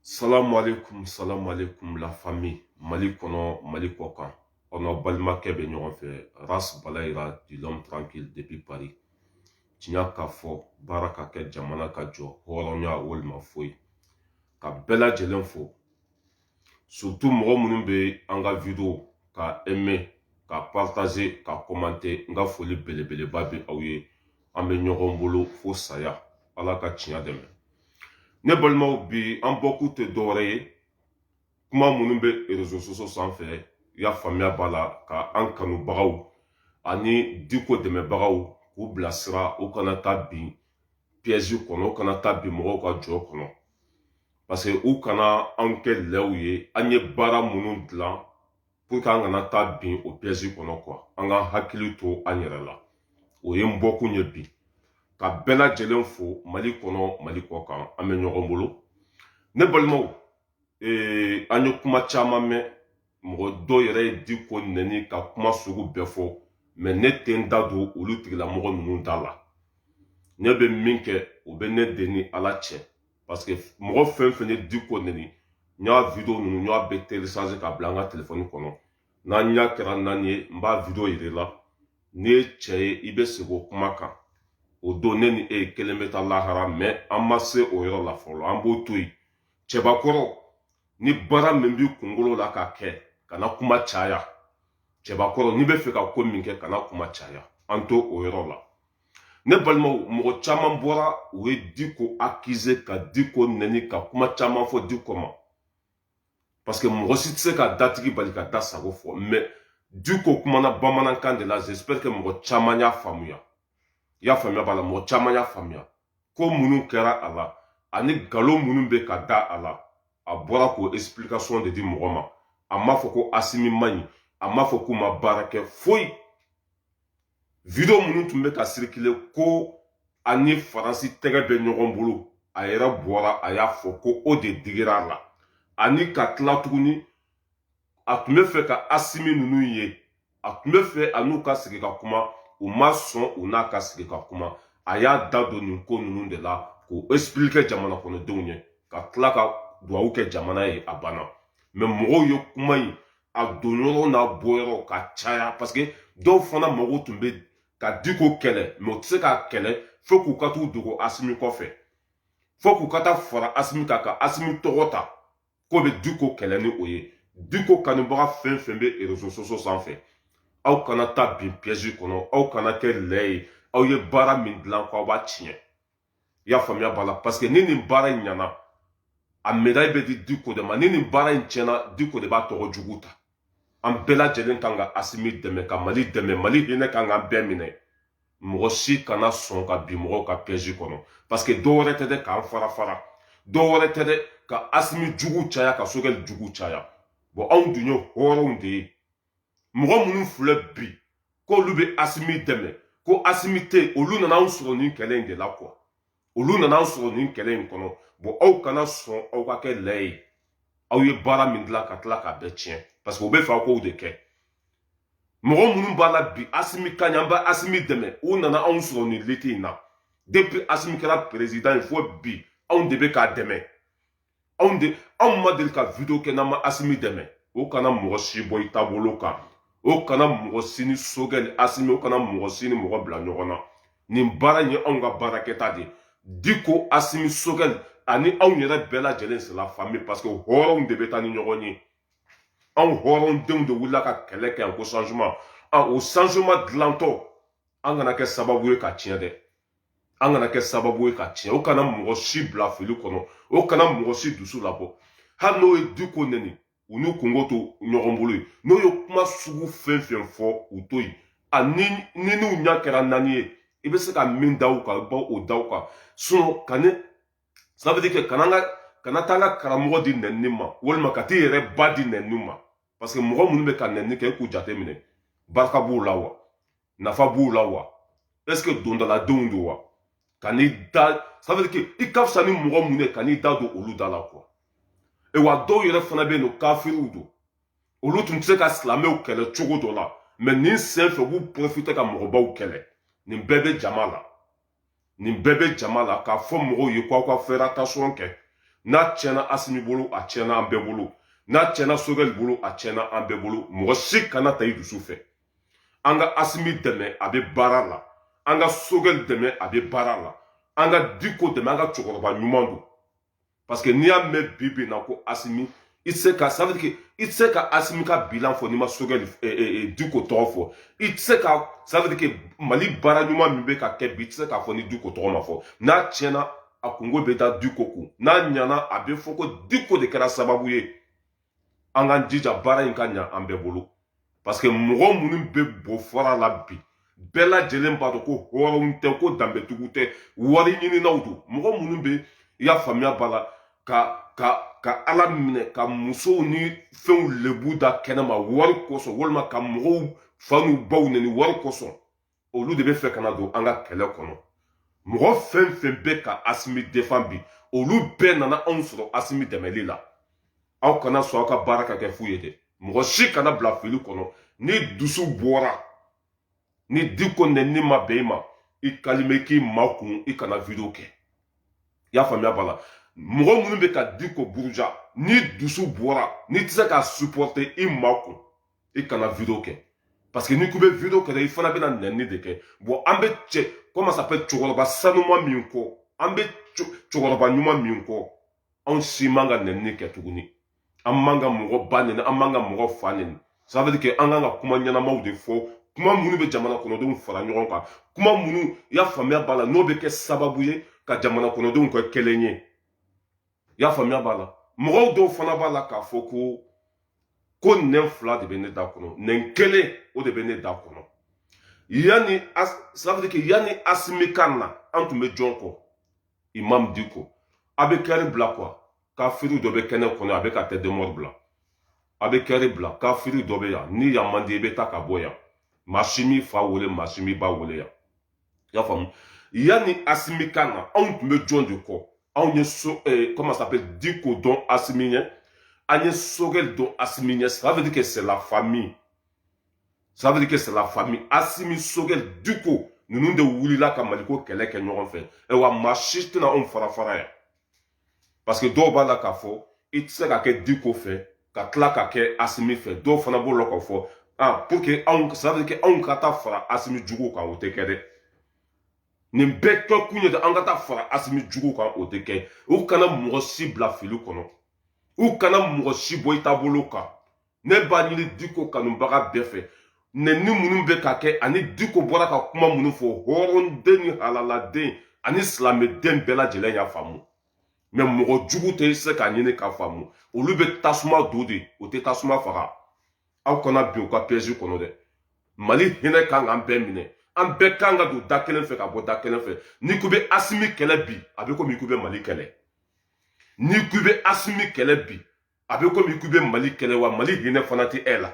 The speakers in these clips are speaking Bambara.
Salamu alaikum, salamu alaikum, la famille. Mali kɔnɔ, Mali kɔ kan. Aw n'aw balimakɛ bɛ ɲɔgɔn fɛ. Ras Balayira, dit l'homme tranquille depuis Paris. Tiɲɛ ka fɔ, baara ka kɛ jamana ka jɔ, hɔrɔnya walima foyi. Ka bɛɛ lajɛlen fo. Surtout mɔgɔ minnu bɛ an ka video ka aimer, ka partager, ka commenter. N ka foli belebeleba bɛ aw ye. an bɛ ɲɔgɔn bolo fo saya ala ka tiɲɛ dɛmɛ ne balimaw bi an bɔkun tɛ dɔwɛrɛ ye kuma minnu bɛ réseaux sociaux sanfɛ y'a faamuya b'a la ka an kanubagaw ani diko dɛmɛbagaw k'u bilasira u kana taa bin piège kɔnɔ u kana taa bin mɔgɔw ka jɔ kɔnɔ parce que u kana an kɛ lɛw ye an ye baara minnu dilan pour que an kana taa bin o piège kɔnɔ quoi an k'an hakili to an yɛrɛ la o ye n bɔkun ye bi ka bɛɛ lajɛlen fo mali kɔnɔ mali kɔ kan an bɛ ɲɔgɔn bolo ne balimaw ee, an ye kuma caman mɛn mɔgɔ dɔw yɛrɛ ye diko nɛni ka kuma sugu bɛɛ fɔ mɛ ne tɛ n da don olu tigilamɔgɔ ninnu da la ne bɛ min kɛ o bɛ ne de ni ala cɛ parce que mɔgɔ fɛn fɛn ye diko nɛni n y'a video ninnu n y'a bɛɛ télécharger ka bila n ka telefɔni kɔnɔ n'an ɲɛ kɛra naani ye n b'a video yira i la n'i ye cɛ ye i bɛ segin o kuma kan o don ne ni e kelen bɛ taa lahara mɛ an ma se o yɔrɔ la fɔlɔ an b'o to yen cɛbakɔrɔ ni baara min b'i kunkolo la ka kɛ kana kuma caya cɛbakɔrɔ n'i bɛ fɛ ka ko min kɛ kana kuma caya an to o yɔrɔ la ne balimaw mɔgɔ caman bɔra u ye diko accuser ka diko nɛni ka kuma caman fɔ diko ma parce que mɔgɔ si tɛ se ka datigi bali k'a da sago fɔ mɛ diko kumana bamanankan de la j'espère que mɔgɔ caman y'a faamuya i y'a faamuya b'a la mɔgɔ caman y'a faamuya ko minnu kɛra a la ani nkalon minnu bɛ ka da a la a bɔra k'o explication de di mɔgɔ ma a m'a fɔ ko asimi man ɲi a m'a fɔ k'u ma baara kɛ foyi video minnu tun bɛ ka circuler ko a ni faransi tɛgɛ bɛ ɲɔgɔn bolo a yɛrɛ bɔra a y'a fɔ ko o de digira a la ani ka tila tuguni a tun bɛ fɛ ka asimi ninnu ye a tun bɛ fɛ a n'u ka sigi ka kuma u ma sɔn u n'a ka sigi ka kuma a y'a da don nin ko ninnu de la k'o expliquer jamana kɔnɔdenw ye ka tila ka dugawu kɛ jamana ye a banna mɛ mɔgɔw ye kuma in a donyɔrɔ n'a bɔyɔrɔ ka caya parce que dɔw fana mago tun bɛ ka diko kɛlɛ mɛ u tɛ se k'a kɛlɛ fo k'u ka t'u dogo asimi kɔfɛ fo k'u ka taa fara asimi kan ka asimi tɔgɔ ta k'u bɛ diko kɛlɛ ni o ye diko kanubaga fɛn fɛn bɛ réseaux sociaux sanfɛ aw kana taa bin piège kɔnɔ aw kana kɛ lɛ ye aw ye baara min dilan ko aw b'a tiɲɛ i y'a faamuya b'a la parce que ni nin baara in ɲana a medaille bɛ di diko de ma ni nin baara in tiɲɛna diko de b'a tɔgɔ jugu ta an bɛɛ lajɛlen kan ka asimi dɛmɛ ka mali dɛmɛ mali hinɛ kan k'an bɛɛ minɛ mɔgɔ si kana sɔn ka bin mɔgɔw ka piɛzi kɔnɔ parce que dɔ wɛrɛ tɛ dɛ k'an fara fara dɔ wɛrɛ tɛ dɛ ka asimi jugu caya ka sogɛli jugu caya bɔn anw dun ye hɔrɔnw de ye mɔgɔ minnu filɛ bi k'olu bɛ asimi dɛmɛ ko asimi tɛ yen olu nana anw sɔrɔ nin kɛlɛ in de la quoi olu nana anw sɔrɔ nin kɛlɛ in kɔnɔ bɔn aw kana sɔn aw ka kɛ lɛ ye aw ye baara min dilan ka tila k'a bɛɛ tiɲɛ parce que u bɛ fɛ aw k'o de kɛ mɔgɔ minnu b'a la bi asimi ka ɲɛ an bɛ asimi dɛmɛ u nana anw sɔrɔ nin lutte in na depuis asimi kɛra perezidan ye fo bi anw de bɛ k'a dɛmɛ anw de anw ma deli ka video kɛ n'an ma asimi dɛmɛ o kana mɔgɔ si bɔ i taabolo kan o kana mɔgɔ si ni sogɛ ni asimi o kana mɔgɔ si ni mɔgɔ bila ɲɔgɔn na nin baara in ye anw ka baarakɛta de ye diko asimi sogɛli ani anw yɛrɛ bɛɛ lajɛlen c'est la famille parce que hɔrɔnw de bɛ taa ni ɲɔgɔn ye anw hɔrɔndenw de wulila ka kɛlɛ kɛ yan ko changement o changement dilantɔ an kana kɛ sababu ye k'a tiɲɛ dɛ an kana kɛ sababu ye k'a tiɲɛ o kana mɔgɔ si bila fili kɔnɔ o kana mɔgɔ si dusu labɔ hali n'o ye diko nɛni u n'u kungo to ɲɔgɔn bolo yen n'o ye kuma sugu fɛn fɛn fɔ u to yen ani n'i n'u ɲɛ kɛra naani ye i bɛ se ka min da u kan i b'o da u kan sinon ka ne sabati kɛ kana ka kana taa an ka karamɔgɔ di nɛni ma walima ka t'i yɛrɛ ba di nɛni ma parce que mɔgɔ minnu bɛ ka nɛni kɛ e k'u jate minɛ barika b'u la wa nafa b'u la wa est ce que dondaladenw don wa kan'i da ça veut dire que i ka fisa ni mɔgɔ minnu ye kan'i da don olu da la quoi ayiwa dɔw yɛrɛ fana bɛ yen nɔ kafiriw don olu tun tɛ se ka silamɛw kɛlɛ cogo dɔ la mais nin sen fɛ u b'u pɔrɔfite ka mɔgɔbaw kɛlɛ nin bɛɛ bɛ jama la nin bɛɛ bɛ jama la k'a fɔ mɔgɔw ye k'aw ka faire attention kɛ n'a tiɲɛna asimi bolo a tiɲɛna an bɛɛ bolo n'a tiɲɛna sogɛli bolo a tiɲɛna an bɛɛ bolo mɔgɔ si kana taa i dusu fɛ an ka asimi dɛmɛ a bɛ baara la an ka sogɛli dɛmɛ a bɛ baara la an ka diko dɛmɛ an ka cɛkɔrɔba ɲuman don parce que n'i y'a mɛn bi bi na ko asimi i tɛ se ka ça veut dire que i tɛ se ka asimi ka bilan fɔ n'i ma sogɛli eh, eh, eh, diko tɔgɔ fɔ i tɛ se ka ça veut dire que mali baara ɲuman min bɛ ka kɛ bi i tɛ se k'a fɔ ni diko tɔgɔ ma fɔ n'a tiɲɛna a kungo bɛ taa diko kun n'a ɲana a bɛ fɔ ko diko de kɛra sababu ye an k'an jija baara in ka ɲa an bɛɛ bolo parce que mɔgɔ minnu bɛ bɔ fara la bi bɛɛ lajɛlen b'a dɔn ko hɔrɔnw tɛ ko danbetigiw tɛ wari ɲininaw don mɔgɔ minnu bɛ i y'a faamuya b'a la ka ka ka ala minɛ ka musow ni fɛnw lebu da kɛnɛma wari kosɔn walima ka mɔgɔw fa n'u baw nɛni wari kosɔn olu de bɛ fɛ ka na don an ka kɛlɛ kɔnɔ mɔgɔ fɛn fɛn bɛ ka asimi defan bi olu bɛɛ nana anw sɔrɔ asimi dɛmɛli la aw kana sɔn aw ka baara ka kɛ fu ye dɛ mɔgɔ si kana bila fili kɔnɔ n'i dusu bɔra ni diko nɛni ma bɛn i ma i kalime k'i makun i kana video kɛ i y'a faamuya b'a la mɔgɔ minnu bɛ ka diko buruja n'i dusu bɔra n'i tɛ se ka supɔrte i makun i kana video kɛ parce que n'i ko i bɛ video kɛ i fana bɛna nɛni de kɛ bon an bɛ cɛ comment ça s'appelle cɛkɔrɔba sanuma min kɔ an bɛ cɛkɔrɔba ɲuman min kɔ anw si man ka nɛni kɛ tuguni an man ka mɔgɔ ba nɛni an man ka mɔgɔ fa nɛni ça veut dire que an kan ka kuma ɲɛnamaw de fɔ kuma minnu bɛ jamana kɔnɔdenw fara ɲɔgɔn kan kuma minnu i y'a faamuya b'a la n'o bɛ kɛ sababu ye ka jamana kɔnɔdenw kɛ kelen ye i y'a faamuya b'a la mɔgɔw dɔw fana b'a la k'a fɔ ko ko nɛn fila de bɛ ne da kɔnɔ nɛn kelen o de bɛ ne da kɔnɔ yanni ça veut dire que yanni asimi ka na an tun bɛ jɔn kɔ imam diko a bɛ cœur bila quoi kafiri dɔ bɛ kɛnɛ kɔnɔ a bɛ ka tête de mort bila a bɛ cœur bila kafiri dɔ bɛ yan ni yan man di i bɛ taa ka bɔ yan maa si m'i fa wele maa si m'i ba wele yan i y'a faamu yanni asimi ka na anw tun bɛ jɔn de kɔ anw ye so eh, comment ça s'appelle diko dɔn asimi ɲɛ an ye sogɛli dɔn asimi ɲɛ ça veut dire que c'est la famille ça veut dire que c'est la famille asimi sogɛli diko ninnu de wulila ka maliko kɛlɛ kɛ ɲɔgɔn fɛ ayiwa maa si tɛna anw fara fara yan parce que dɔw b'a la k'a fɔ i tɛ se ka kɛ diko fɛ ka tila ka kɛ asimi fɛ dɔw fana b'o la k'a fɔ ah pour que anw ça veut dire que anw ka taa fara asimi juguw kan o tɛ kɛ dɛ nin bɛɛ kɛ kun ye de an ka taa fara asimi juguw kan o tɛ kɛ u kana mɔgɔ si bila fili kɔnɔ u kana mɔgɔ si bɔ i taabolo kan ne b'a ɲini diko kanubaga bɛɛ fɛ nɛni minnu bɛ ka kɛ ani diko bɔra ka kuma minnu fɔ hɔrɔnden ni halaladen ani silamɛden bɛɛ lajɛlen y'a faamu mais mɔgɔ jugu tɛ se k'a ɲini k'a faamu olu bɛ tasuma don de u tɛ tasuma faga aw kana bin u ka piɛzi kɔnɔ dɛ mali hinɛ kan k'an bɛɛ minɛ an bɛɛ kan ka don da kelen fɛ ka bɔ da kelen fɛ n'i ko i bɛ asimi kɛlɛ bi a bɛ komi i ko i bɛ mali kɛlɛ n'i ko i bɛ asimi kɛlɛ bi a bɛ komi k'i bɛ mali kɛlɛ wa mali hinɛ fana tɛ e la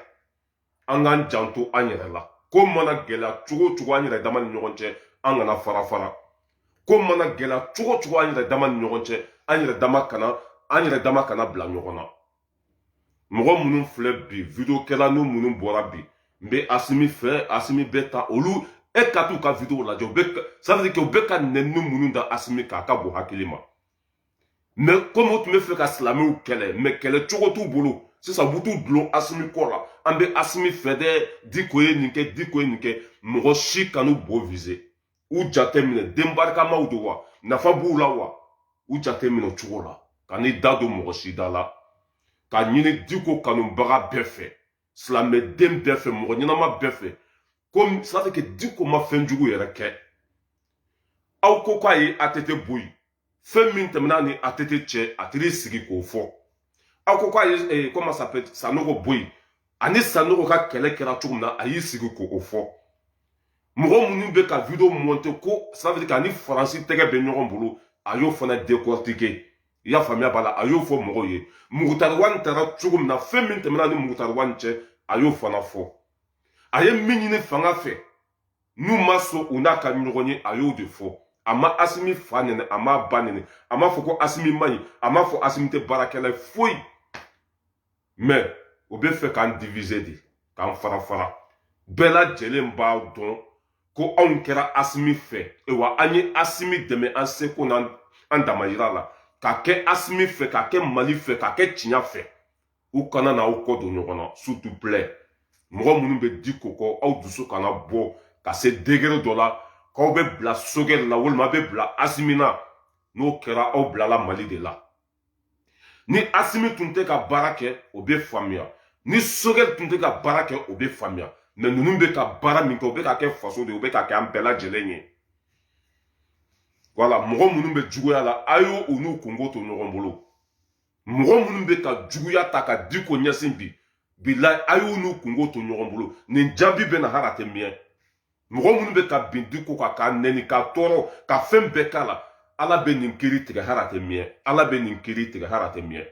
an k'an janto an yɛrɛ la ko mana gɛlɛya cogo cogo an yɛrɛ dama ni ɲɔgɔn cɛ an kana fara fara ko mana gɛlɛya cogo cogo an yɛrɛ dama ni ɲɔgɔn cɛ an yɛrɛ dama kana an yɛrɛ dama kana bila ɲɔgɔn na mɔgɔ minnu filɛ bi video kɛla ninnu minnu bɔra bi n bɛ asimi fɛ asimi bɛ ta olu e ka t'u ka video lajɛ u bɛ ça veut dire que u bɛ ka nɛni minnu da asimi kan a ka bon hakili ma mɛ kɔmi u tun bɛ fɛ ka silamɛw kɛlɛ mɛ kɛlɛ cogo t'u bolo sisan u bɛ t'u dulon asimi kɔ la an bɛ asimi fɛ dɛ diko ye nin kɛ diko ye nin kɛ mɔgɔ si kan'u bɔ vize u jate minɛ den barikamaw don wa nafa b'u la wa u jate minɛ cogo la kan'i da don mɔgɔ si da la k'a ɲini diko kanubaga bɛɛ fɛ silamɛden bɛɛ fɛ mɔgɔ ɲɛnama bɛɛ fɛ ko sase ke diko ma fɛn jugu yɛrɛ kɛ aw ko k'a ye atete bɔ yen fɛn min tɛmɛna ni atete cɛ a taar'i sigi k'o fɔ aw ko k'a ye eh, kɔma sanogo bɔ yen ani sanogo ka kɛlɛ kɛra cogo min na a y'i sigi k'o fɔ mɔgɔ minnu bɛ ka video monte ko safiri k'a ni faransi tɛgɛ bɛ ɲɔgɔn bolo a y'o fana dekortike i y'a faamuya b'a la a y'o fɔ mɔgɔw ye mugutari wani taara cogo min na fɛn min tɛmɛna ni mugutari wani cɛ a y'o fana fɔ a ye min ɲini fanga fɛ n'u ma sɔn u n'a ka ɲɔgɔn ye a y'o de fɔ a ma asimi fa nɛni a m'a ba nɛni a m'a fɔ ko asimi man ɲi a m'a fɔ asimi tɛ baarakɛla ye foyi mɛ u bɛ fɛ k'an divize de k'an fara fara bɛɛ lajɛlen b'a dɔn ko anw kɛra asimi fɛ wa an ye asimi dɛmɛ an seko n'an damayira la ka kɛ asimi fɛ ka kɛ mali fɛ ka kɛ tiɲa fɛ u kana na aw kɔ don ɲɔgɔn na sutu plɛ mɔgɔ minnu bɛ diko kɔ aw dusu kana bɔ ka se degere dɔ la k'aw bɛ bila sogɛli la walima aw bɛ bila asimi na n'o kɛra aw bilala mali de la ni asimi tun tɛ ka baara kɛ o bɛ faamuya ni sogɛli tun tɛ ka baara kɛ o bɛ faamuya mɛ ninnu bɛ ka baara min kɛ o bɛ ka kɛ faso de ye o bɛ ka kɛ an bɛɛ lajɛlen ye wala mɔgɔ minnu bɛ juguya la a y'u n'u kunko to ɲɔgɔn bolo mɔgɔ minnu bɛ ka juguya ta ka diko ɲɛsin bi bilayi a y'u n'u kunko to ɲɔgɔn bolo nin jaabi bɛ na hali a tɛ miyɛn mɔgɔ minnu bɛ ka bin diko kan k'a nɛni k'a tɔɔrɔ ka fɛn bɛɛ k'a la ala bɛ nin kiri tigɛ hali a tɛ miyɛn ala bɛ nin kiri tigɛ hali a tɛ miyɛn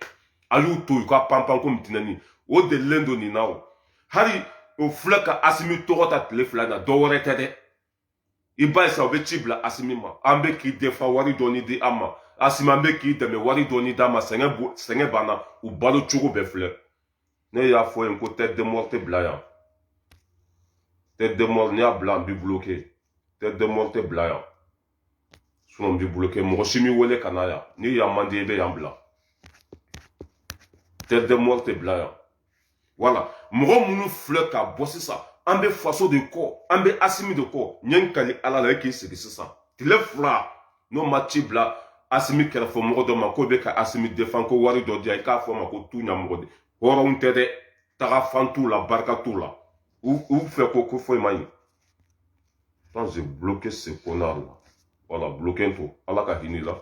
a y'u to yen ka panpan kɔmi tinɛnin o delilen don nin na o hali o filɛ ka asimi tɔgɔ ta tile fila na dɔ wɛrɛ tɛ dɛ i b'a ye sa o bɛ ci bila asimi ma an bɛ k'i defan wari dɔɔni di an ma asimi an bɛ k'i dɛmɛ wari dɔɔni d'an ma sɛgɛn sɛgɛn banna u balo cogo bɛɛ filɛ ne y'a fɔ yen ko tɛti de mɔri tɛ bila yan tɛti de mɔri n'i y'a bila an b'i buloke tɛti de mɔri tɛ bila yan sinɔn n b'i buloke mɔgɔ si m'i wele ka na yan ni yan man di i bɛ yan bila tɛti de mɔri tɛ bila yan wala mɔgɔ minnu filɛ ka bɔ sisan an bɛ faso de kɔ an bɛ asimi de kɔ n ye n kali ala la e k'i sigi sisan tile fila n'o ma ci bila asimi kɛrɛfɛ mɔgɔ dɔ ma k'o bɛ ka asimi defan ko wari dɔ diya i k'a fɔ ma ko tu ɲamɔgɔden hɔrɔnw tɛ dɛ taga fan t'u la barika t'u la u fɛ ko ko foyi man ɲi quand j'ai bloqué ce connard là voilà bloqué to ala ka hinɛ la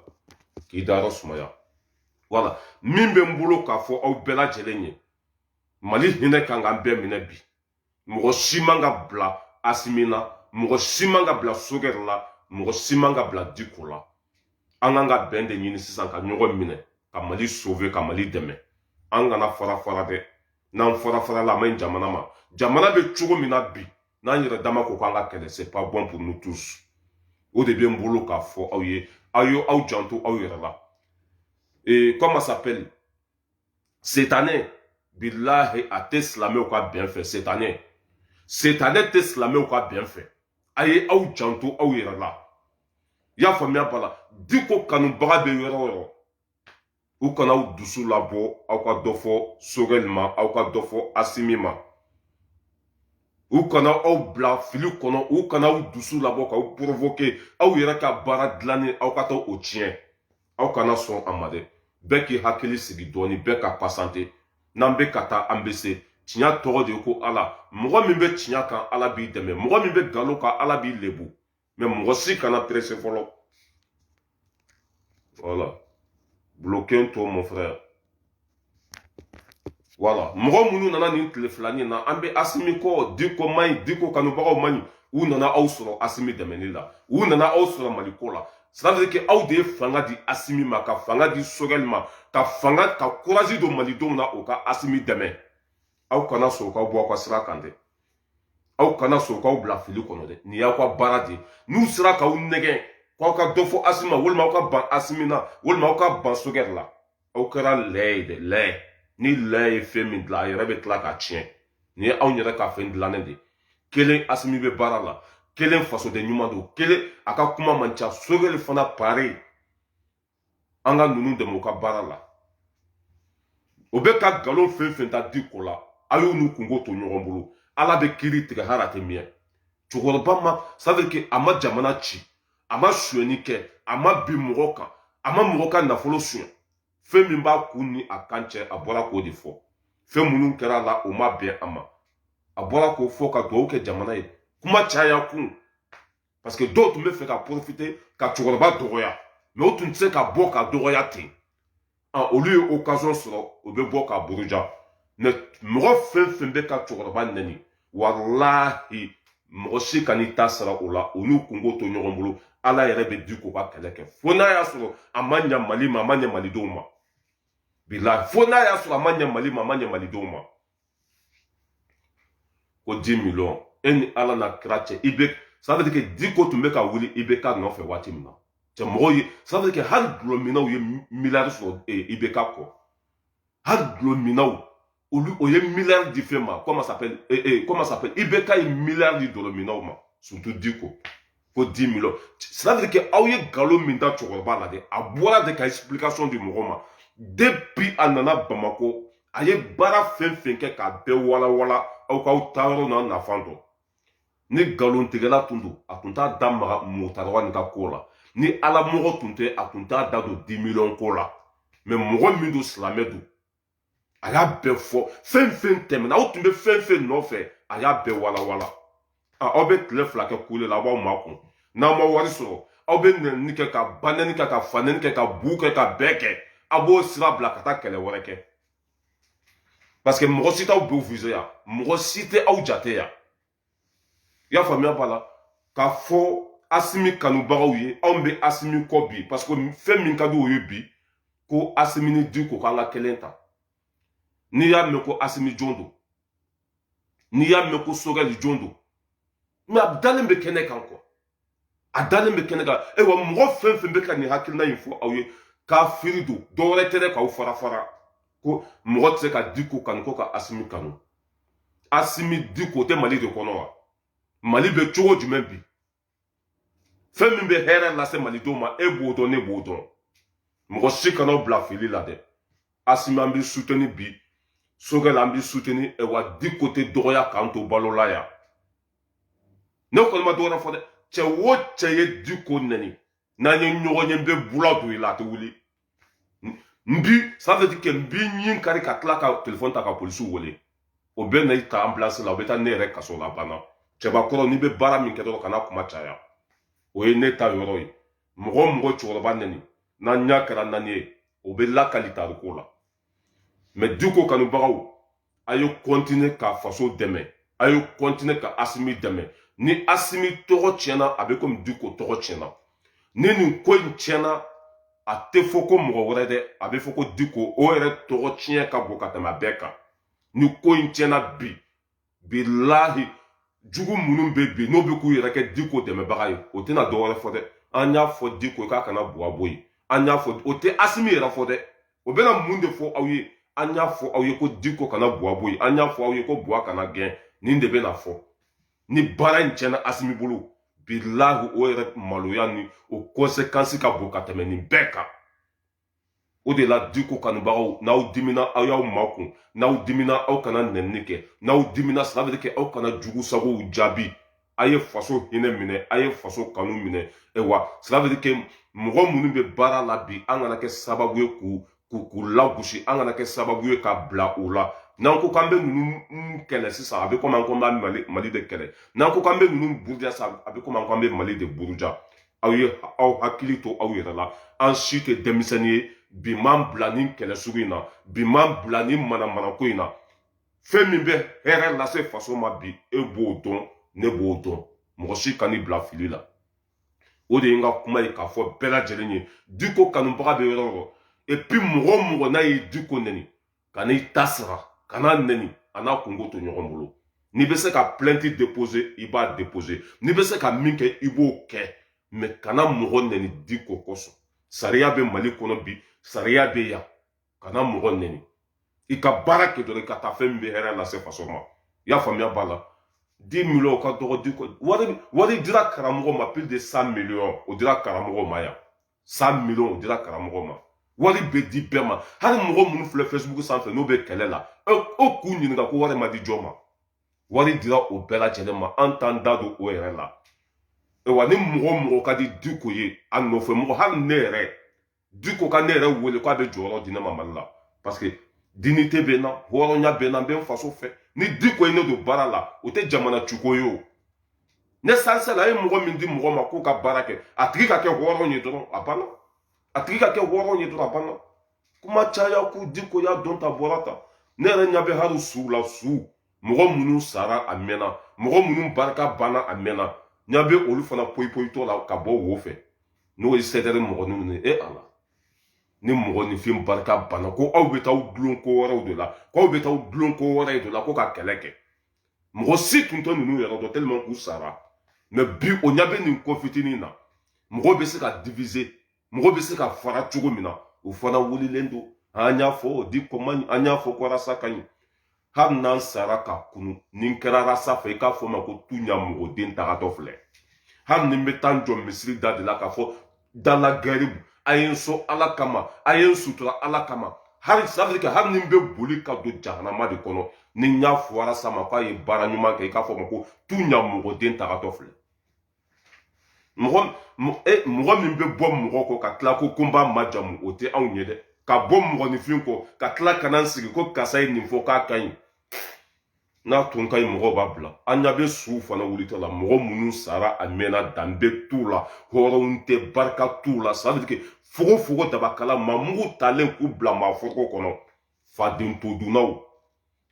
k'i dayɔrɔ sumaya voilà min bɛ n bolo k'a fɔ aw bɛɛ lajɛlen ye mali hinɛ kan k'an bɛɛ minɛ bi mɔgɔ si man ka bila asimi na mɔgɔ si man ka bila sogɛli la mɔgɔ si man ka bila diko la an kan ka bɛn de ɲini sisan ka ɲɔgɔn minɛ ka mali sove ka mali dɛmɛ an kana fara fara dɛ n'an fara fara la a man ɲi jamana ma jamana bɛ cogo min na bi n'an yɛrɛ dama ko k'an ka kɛlɛ c'est pas bon pour nous tous o de bɛ n bolo k'a fɔ aw ye aw ye aw janto aw yɛrɛ la ee comment s'appelle setanɛ bilahi a tɛ silamɛw ka bɛn fɛ setanɛ setanɛ tɛ silamɛw ka bɛn fɛ a ye aw janto aw yɛrɛ la i y'a faamuya voilà diko kanubaga bɛ yɔrɔ o yɔrɔ u kana aw dusu labɔ aw ka dɔ fɔ sogɛli ma aw ka dɔ fɔ asimi ma u kana aw bila fili kɔnɔ u kana aw dusu labɔ k'aw porovoke aw yɛrɛ ka baara dilannen aw ka taa o tiɲɛ aw kana sɔn a ma dɛ bɛɛ k'i hakili sigi dɔɔni bɛɛ ka pasante n'an bɛ ka taa an bɛ se tiɲɛ tɔgɔ de ye ko ala mɔgɔ min bɛ tiɲɛ kan ala b'i dɛmɛ mɔgɔ min bɛ nkalon kan ala b'i lebu mais mɔgɔ si kana perese fɔlɔ voilà bloqué to mon frère voilà mɔgɔ minnu nana nin tile filani na an bɛ asimi kɔ diko man ɲi diko kanubagaw man ɲi u nana aw sɔrɔ asimi dɛmɛni la u nana aw sɔrɔ mali ko la c'est-à-dire que aw de ye fanga di asimi ma ka fanga di sogɛli ma ka fanga ka kurazi don malidenw na u ka asimi dɛmɛ aw kana sɔn u k'aw bɔ aw ka sira kan dɛ aw kana sɔn u k'aw bila fili kɔnɔ dɛ nin y'aw ka baara de ye n'u sera k'aw nɛgɛn k'aw ka dɔ fɔ asimi ma walima aw ka ban asimi na walima aw ka ban sogɛli la aw kɛra lɛ ye dɛ lɛ ni lɛ ye fɛn min dilan a yɛrɛ bɛ tila k'a tiɲɛ nin ye aw yɛrɛ ka fɛn dilannen de ye kelen asimi bɛ baara la kelen fasoden ɲuman don kelen a ka kuma man ca sogɛli fana pareil an ka ninnu dɛmɛ u ka baara la u bɛ ka nkalon fɛn fɛn da diko la a y'u n'u kunko to ɲɔgɔn bolo ala bɛ kiri tigɛ hali a tɛ bi ye cɛkɔrɔba ma c'est-à-dire que a ma jamana ci a ma sonyɛni kɛ a ma bin mɔgɔ kan a ma mɔgɔ ka nafolo sonyɛ fɛn min b'a kun ni a kan cɛ a bɔra k'o de fɔ fɛn minnu kɛra a la o ma bɛn a ma a bɔra k'o fɔ ka dugawu kɛ jamana ye kuma caya kun parce que dɔw tun b'a fɛ ka porofite ka cɛkɔrɔba dɔgɔya mais u tun tɛ se ka bɔ k'a dɔgɔya ten ah, olu ye occasion sɔrɔ u bɛ bɔ k'a buruja mɛ mɔgɔ fɛn fɛn bɛ ka cɛkɔrɔba nɛni walahi mɔgɔ si kan'i ta sara o la u n'u kunko to ɲɔgɔn bolo ala yɛrɛ bɛ diko ka kɛlɛ kɛ fo n'a y'a sɔrɔ a ma ɲa mali ma a ma ɲa malidenw ma bilahi fo n'a y'a sɔrɔ a ma ɲa mali ma a ma ɲa malidenw ma ko di miliyɔn e ni ala n'a kira cɛ i bɛ sabati kɛ diko tun bɛ ka wuli ibeka nɔfɛ waati min na cɛ mɔgɔw ye sabati kɛ hali dulɔminnaw ye miliyari sɔrɔ ibeka kɔ hali dulɔminnaw olu o ye miliyari di fɛn ma comment s'appelle comment s'appelle ibeka ye miliyari di dulɔminnaw ma surtout diko ko di miliyɔn c'est-à-dire que aw ye nkalon min da cɛkɔrɔba la dɛ a bɔra de ka explication di mɔgɔ ma depuis a nana bamakɔ a ye baara fɛn fɛn kɛ k'a bɛɛ walawala aw k'aw taa yɔrɔ n'a nafan dɔn ni nkalontigɛla tun don a tun t'a da maga mɔgɔtagawa nin ka ko la ni alamɔgɔ tun tɛ a tun t'a da don di miliyɔn ko la mɛ mɔgɔ min don silamɛ don a y'a bɛɛ fɔ fɛn fɛn tɛmɛna aw tun bɛ fɛn fɛn nɔfɛ a y'a bɛɛ walawala aw bɛ tile fila kɛ kule la aw b'aw makun n'aw ma wari sɔrɔ aw bɛ nɛni kɛ ka banɛni kɛ ka fanɛni kɛ ka bu kɛ k'a bɛɛ kɛ aw b'o sira bila ka taa kɛlɛ wɛrɛ kɛ parce que mɔgɔ si t'aw viser yan mɔgɔ si tɛ aw jate yan i y'a faamuya b'a la k'a fɔ asimi kanubagaw ye anw bɛ asimi kɔ bi parce que fɛn min ka di u ye bi ko asimi ni diko k'an ka kelen ta n'i y'a mɛn ko asimi jɔn don n'i y'a mɛn ko sogɛli jɔn don mɛ a dalen bɛ kɛnɛ kan kɔ a dalen bɛ kɛnɛ kan ayiwa mɔgɔ fɛn fɛn bɛ ka nin hakilina in fɔ aw ye kafiri don dɔwɛrɛ tɛ dɛ k'aw fara fara ko mɔgɔ tɛ se ka diko kanu ko ka asimi kanu asimi diko tɛ mali de kɔnɔ wa mali bɛ cogo jumɛn bi fɛn min bɛ hɛrɛ lase malidenw ma e b'o dɔn ne b'o dɔn mɔgɔ si kana bila fili la dɛ asimi an bɛ suteni bi sogɛli an bɛ suteni wa diko tɛ dɔgɔya k'an to balo la yan ne kɔni ma dɔwɛrɛ fɔ dɛ cɛ o cɛ ye diko nɛni n'an ye ɲɔgɔn ye n bɛ bula don i la a tɛ wuli n b'i sanfɛ kɛ n b'i ɲin kari ka tila ka telefɔni ta ka polisiw wele o bɛ na i ta ambulance la o bɛ taa ne yɛrɛ kaso la banna cɛbakɔrɔ n'i bɛ baara min kɛ dɔrɔn kana kuma caya o ye ne ta yɔrɔ ye mɔgɔ o mɔgɔ cɛkɔrɔba nɛni n'an ɲa kɛra naani ye o bɛ lakali tariku la mɛ diko kanubagaw a ye kɔntine ka faso dɛmɛ a ye kɔntine ka asimi dɛmɛ ni asimi tɔgɔ tiɲɛna a bɛ komi diko tɔgɔ tiɲɛna ni nin ko in tiɲɛna a tɛ fɔ ko mɔgɔ wɛrɛ dɛ a bɛ fɔ ko diko o yɛrɛ tɔgɔ tiɲɛ ka bon ka tɛmɛ a bɛɛ kan ni ko in tiɲɛna bi bilahi jugu minnu bɛ bi n'o bɛ k'u yɛrɛ kɛ diko dɛmɛbaga ye o tɛna dɔ wɛrɛ fɔ dɛ an y'a fɔ diko k'a kana buwa bɔ yen an y'a fɔ o tɛ asimi yɛrɛ fɔ dɛ o bɛna mun de fɔ aw ye an y'a fɔ aw ye ko diko kana buwa bɔ yen an y'a fɔ aw ye ko buwa kana gɛn nin de bɛna fɔ ni baara in tiɲɛna asimi bolo bilahi o yɛrɛ maloya ni o kɔnsekansi ka bon ka tɛmɛ nin bɛɛ kan o de la diko kanubagaw n'aw dimina aw y'aw makun n'aw dimina aw kana nɛnini kɛ n'aw dimina sira bɛ kɛ aw kana jugu sagow jaabi a ye faso hinɛ minɛ a ye faso kanu minɛ wa sira bɛ kɛ mɔgɔ minnu bɛ baara la bi an kana kɛ sababu ye k'u k'u lagosi an kana kɛ sababu ye ka bila u la n'an ko k'an bɛ ninnu kɛlɛ sisan a bɛ komi an ko an bɛ mali de kɛlɛ n'an ko k'an bɛ ninnu buruja sisan a bɛ komi an ko an bɛ mali de buruja aw ye aw hakili to aw yɛrɛ la an si tɛ denmisɛnnin ye bi m'an bila nin kɛlɛ sugu in na bi m'an bila nin manamanako in na fɛn min bɛ hɛrɛ lase faso ma bi e b'o dɔn ne b'o dɔn mɔgɔ si kan'i bila fili la o de ye n ka kuma ye k'a fɔ bɛɛ lajɛlen ye diko kanubaga bɛ yɔrɔ o yɔrɔ epi mɔgɔ o mɔgɔ n'a ye diko nɛni kan'i ta sara kan'a nɛni a n'a kunko to ɲɔgɔn bolo n'i bɛ se ka plainte déposer i b'a déposer n'i bɛ se ka min kɛ i b'o kɛ mɛ kana mɔgɔ nɛni diko kosɔn sariya bɛ mali kɔnɔ bi sariya bɛ yan kana mɔgɔ nɛni i ka baara kɛ dɔrɔn i ka taa fɛn min bɛ hɛrɛ lase faso ma i y'a faamuya b'a la 10 miliyɔn ka dɔgɔ di wari wari dira karamɔgɔ ma plus de 100 miliyɔn o dira karamɔgɔ ma yan 100 miliyɔn o dira karamɔgɔ ma wari bɛ di bɛɛ ma hali mɔgɔ minnu filɛ facebook sanfɛ n'o bɛ kɛlɛ la o k'u ɲininka ko wari ma di jɔn ma wari dira o bɛɛ lajɛlen ma an t'an da don o yɛrɛ la wa ni mɔgɔ mɔgɔ ka di diko ye a nɔfɛ mɔgɔ hali ne yɛrɛ diko ka ne yɛrɛ wele k'a bɛ jɔyɔrɔ di ne ma mali la parce que dinite bɛ n na hɔrɔnya bɛ n na n bɛ n faso fɛ ni diko ye ne don baara la o tɛ jamana ciko ye o ne sansala a ye mɔgɔ min di mɔgɔ ma k'o ka baara kɛ a tigi ka kɛ hɔrɔn ye dɔrɔn a banna a tigi ka kɛ hɔrɔn ye dɔrɔn a banna kuma caya ko diko y'a dɔn ta bɔra ta ne yɛrɛ ɲɛ bɛ hali suw la suw mɔgɔ minnu sara a mɛnna mɔgɔ minnu barika banna a mɛnna ɲɛ bɛ olu fana poyipoyitɔ la ka bɔ wo fɛ n'o ye sɛdɛrɛ mɔgɔ ninnu ye e ala ni mɔgɔ ni fɛn barika banna ko aw bɛ taa aw dulon ko wɛrɛw de la ko aw bɛ taa aw dulon ko wɛrɛ de la ko ka kɛlɛ kɛ mɔgɔ si tun tɛ ninnu yɛrɛ dɔn tellement u sara mɛ bi o ɲɛ bɛ nin ko fitinin na mɔgɔ bɛ se ka divize mɔgɔ bɛ se ka fara cogo min na o fana wulilen don an y'a fɔ diko man ɲi an y'a fɔ ko rasa ka ɲi hali n'an sara ka kunun n'i kɛra rasa fɛ i k'a fɔ ma ko tu ɲa mɔgɔ den tagatɔ filɛ hali ni n bɛ taa n jɔ misiri da de la k'a fɔ dala garibu a ye n sɔn ala kama a ye n sutura ala kama hali sabiri kɛ hali ni n bɛ boli ka don jahanama de kɔnɔ n'i y'a fɔ rasa ma k'a ye baara ɲuman kɛ i k'a fɔ a ma ko tiɲa mɔgɔ den tagatɔ filɛ mɔgɔ e, mɔgɔ min bɛ bɔ mɔgɔ kɔ ka tila ko ko n b'a majamu o tɛ anw ye dɛ ka bɔ mɔgɔninfin kɔ ka tila ka na n sigi ko karisa ye nin fɔ k'a ka ɲi n'a tun ka ɲi mɔgɔw b'a bila an ɲa bɛ suw fana wulitɔ la mɔgɔ minnu sara a mɛnna danbe t'u la hɔrɔnw tɛ barika t'u la sadike fogo fogo dabakala maa mugu talen k'u bila maa foroko kɔnɔ faden todunnaw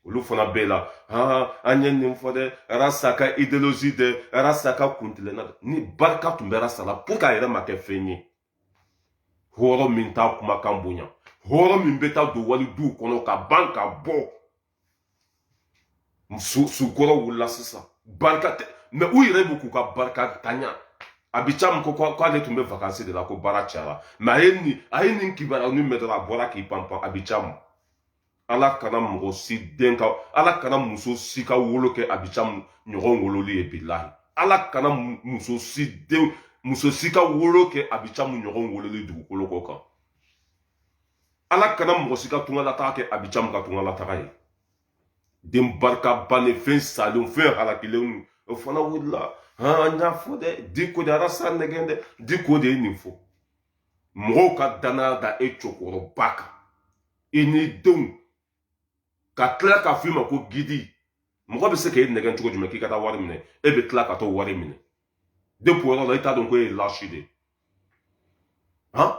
olu fana bɛ a la han an ye nin fɔ dɛ rasa ka ideolozi dɛ rasa ka kuntilenna dɛ ni barika tun bɛ rasa la pourquoi a yɛrɛ ma kɛ fɛn ye hɔrɔn min t'a kumakan bonya hɔrɔn min bɛ taa don wali duw kɔnɔ ka ban ka bɔ su kɔrɔ wulila sisan barika tɛ mɛ u yɛrɛ bɛ k'u ka barikantanya abi camu ko k'ale tun bɛ vakansi de la ko baara cayara mɛ a ye nin a ye nin kibaruya nin mɛn dɔrɔn a bɔra k'i panpan abi camu ala kana mɔgɔ si den ka ala kana muso si ka wolo kɛ abi camu ɲɔgɔn wololi ye bilahi ala kana muso si den muso si ka wolo kɛ abi camu ɲɔgɔn wololi dugukolo kɔ kan ala kana mɔgɔ si ka tungalataga kɛ abi camu ka tungalataga ye den barika bannen fɛn salenw fɛn halakilenw o fana wulila an y'a fɔ dɛ diko de ye rasa nɛgɛn dɛ diko de ye nin fɔ mɔgɔw ka danaya da e cɛkɔrɔba kan i n'i denw ka tila k'a fɔ i ma ko gidi mɔgɔ bɛ se k'e nɛgɛn cogo jumɛn k'i ka taa wari minɛ e bɛ tila ka t'o wari minɛ depi yɔrɔ la i t'a dɔn ko e ye lâche de ye han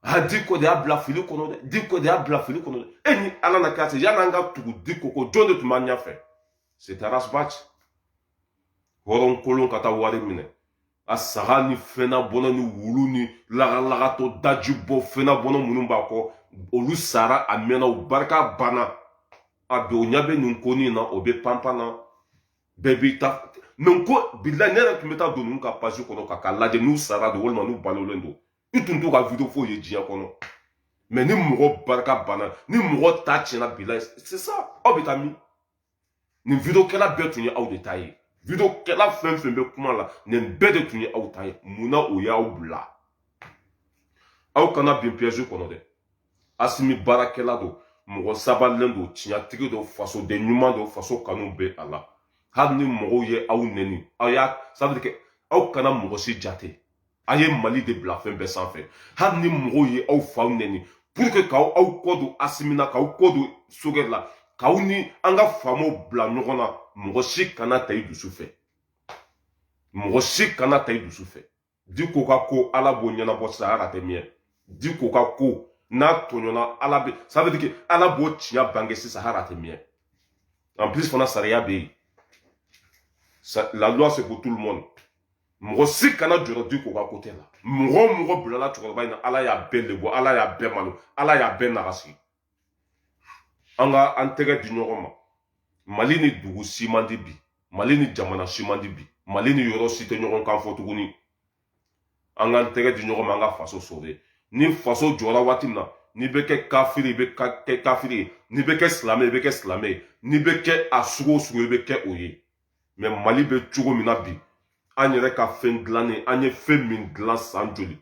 a diko de y'a bila fili kɔnɔ dɛ diko de y'a bila fili kɔnɔ dɛ e ni ala na k'a se yan an ka tugu diko kɔ jɔn de tun b'an ɲɛfɛ c'est ras bath hɔrɔn kolon ka taa wari minɛ a saga ni fɛnna bɔnɔ ni wulu ni lagalagatɔ daji bɔ fɛnna bɔnɔ minnu b'a kɔ olu sara a mɛnna u barika banna a bɛ o ɲɛ bɛ nin ko nin na o bɛ panpan na bɛɛ b'i ta mɛ n ko bilayi ne yɛrɛ tun bɛ taa don ninnu ka pazi kɔnɔ ka k'a lajɛ n'u sara don walima n'u balolen don i tun t'u ka video foyi ye diɲɛ kɔnɔ mɛ ni mɔgɔ barika banna ni mɔgɔ ta tiɲɛna bilayi sisan aw bɛ taa min nin videokɛla bɛɛ tun ye aw de ta ye videokɛla fɛn fɛn bɛ kuma la nin bɛɛ de tun ye aw ta ye munna o y'aw bila aw kana bin piyɛzi kɔnɔ dɛ asimi baarakɛla don mɔgɔ sabalilen don tiɲɛtigi don fasoden ɲuman don faso kanu bɛ a la hali ni mɔgɔw ye aw nɛni aw ye sabali kɛ aw kana mɔgɔ si jate a ye mali de bila fɛn bɛɛ sanfɛ hali ni mɔgɔw ye aw faw nɛni pour que k'aw aw kɔ don asimi na k'aw kɔ don sogɛli la k'aw ni an ka faamaw bila ɲɔgɔn na mɔgɔ si kana ta i dusu fɛ mɔgɔ si kana ta i dusu fɛ diko ka ko ala b'o ɲɛnabɔ saya ka tɛ mɛɛn diko ka ko n'a tɔɲɔna ala bɛ ça veut dire que ala b'o tiɲɛ bange sisan hali a tɛ mɛɛn en plus fana sariya bɛ yen la loi c'est pour tout le monde mɔgɔ si kana jɔrɔ diko ka kote la mɔgɔ o mɔgɔ bilala cɛkɔrɔba in na ala y'a bɛɛ lebu ala y'a bɛɛ malo ala y'a bɛɛ nagasi an ka an tɛgɛ di ɲɔgɔn ma mali ni dugu si man di bi mali ni jamana si man di bi mali ni yɔrɔ si tɛ ɲɔgɔn kan fɔ tuguni an k'an tɛgɛ di ɲɔgɔn ma an ka faso sɔrɔ ni faso jɔra waati min na n'i bɛ kɛ kafiri i bɛ kɛ kafiri ye n'i bɛ kɛ silamɛ i bɛ kɛ silamɛ ye n'i bɛ kɛ a sugu o sugu i bɛ kɛ o ye mɛ mali bɛ cogo min na bi an yɛrɛ ka fɛn dilannen an ye fɛn min dilan san joli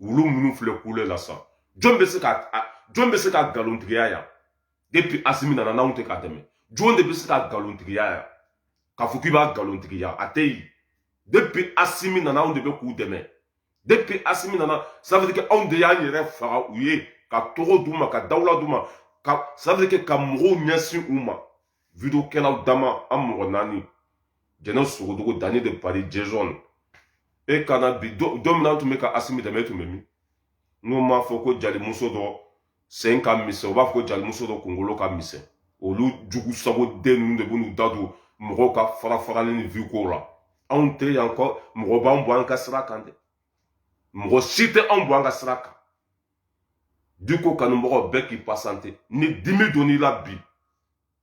wulu minnu filɛ kule la sa jɔn bɛ se ka jɔn bɛ se k'a nkalontigiya yan depuis asimi nana n'anw tɛ k'a dɛmɛ jɔn de bɛ se k'a nkalontigiya yan k'a fɔ k'i b'a nkalontigiya a tɛ yen depuis asimi nana anw de bɛ k'u dɛmɛ depuis asimi nana ça veut dire que anw de y'an yɛrɛ faga u ye ka tɔgɔ d'u ma ka dawula d'u ma ka ça veut dire que ka mɔgɔw ɲɛsin u ma videokɛlaw dama an mɔgɔ naani jɛnɛ sogodogo dani de paris jezɔn e kana bi don min na tun bɛ ka asimi dɛmɛ e tun bɛ min n'u m'a fɔ ko jalimuso dɔ sen ka misɛn u b'a fɔ ko jalimuso dɔ kunkolo ka misɛn olu jugu sago den ninnu de b'u da don mɔgɔw ka farafarali ni viko la anw tɛ yan ko mɔgɔ b'an bɔ an ka sira kan dɛ mɔgɔ si tɛ anw bɔ an ka sira kan diko kanumɔgɔ bɛɛ k'i pasante ni dimi donn'i la bi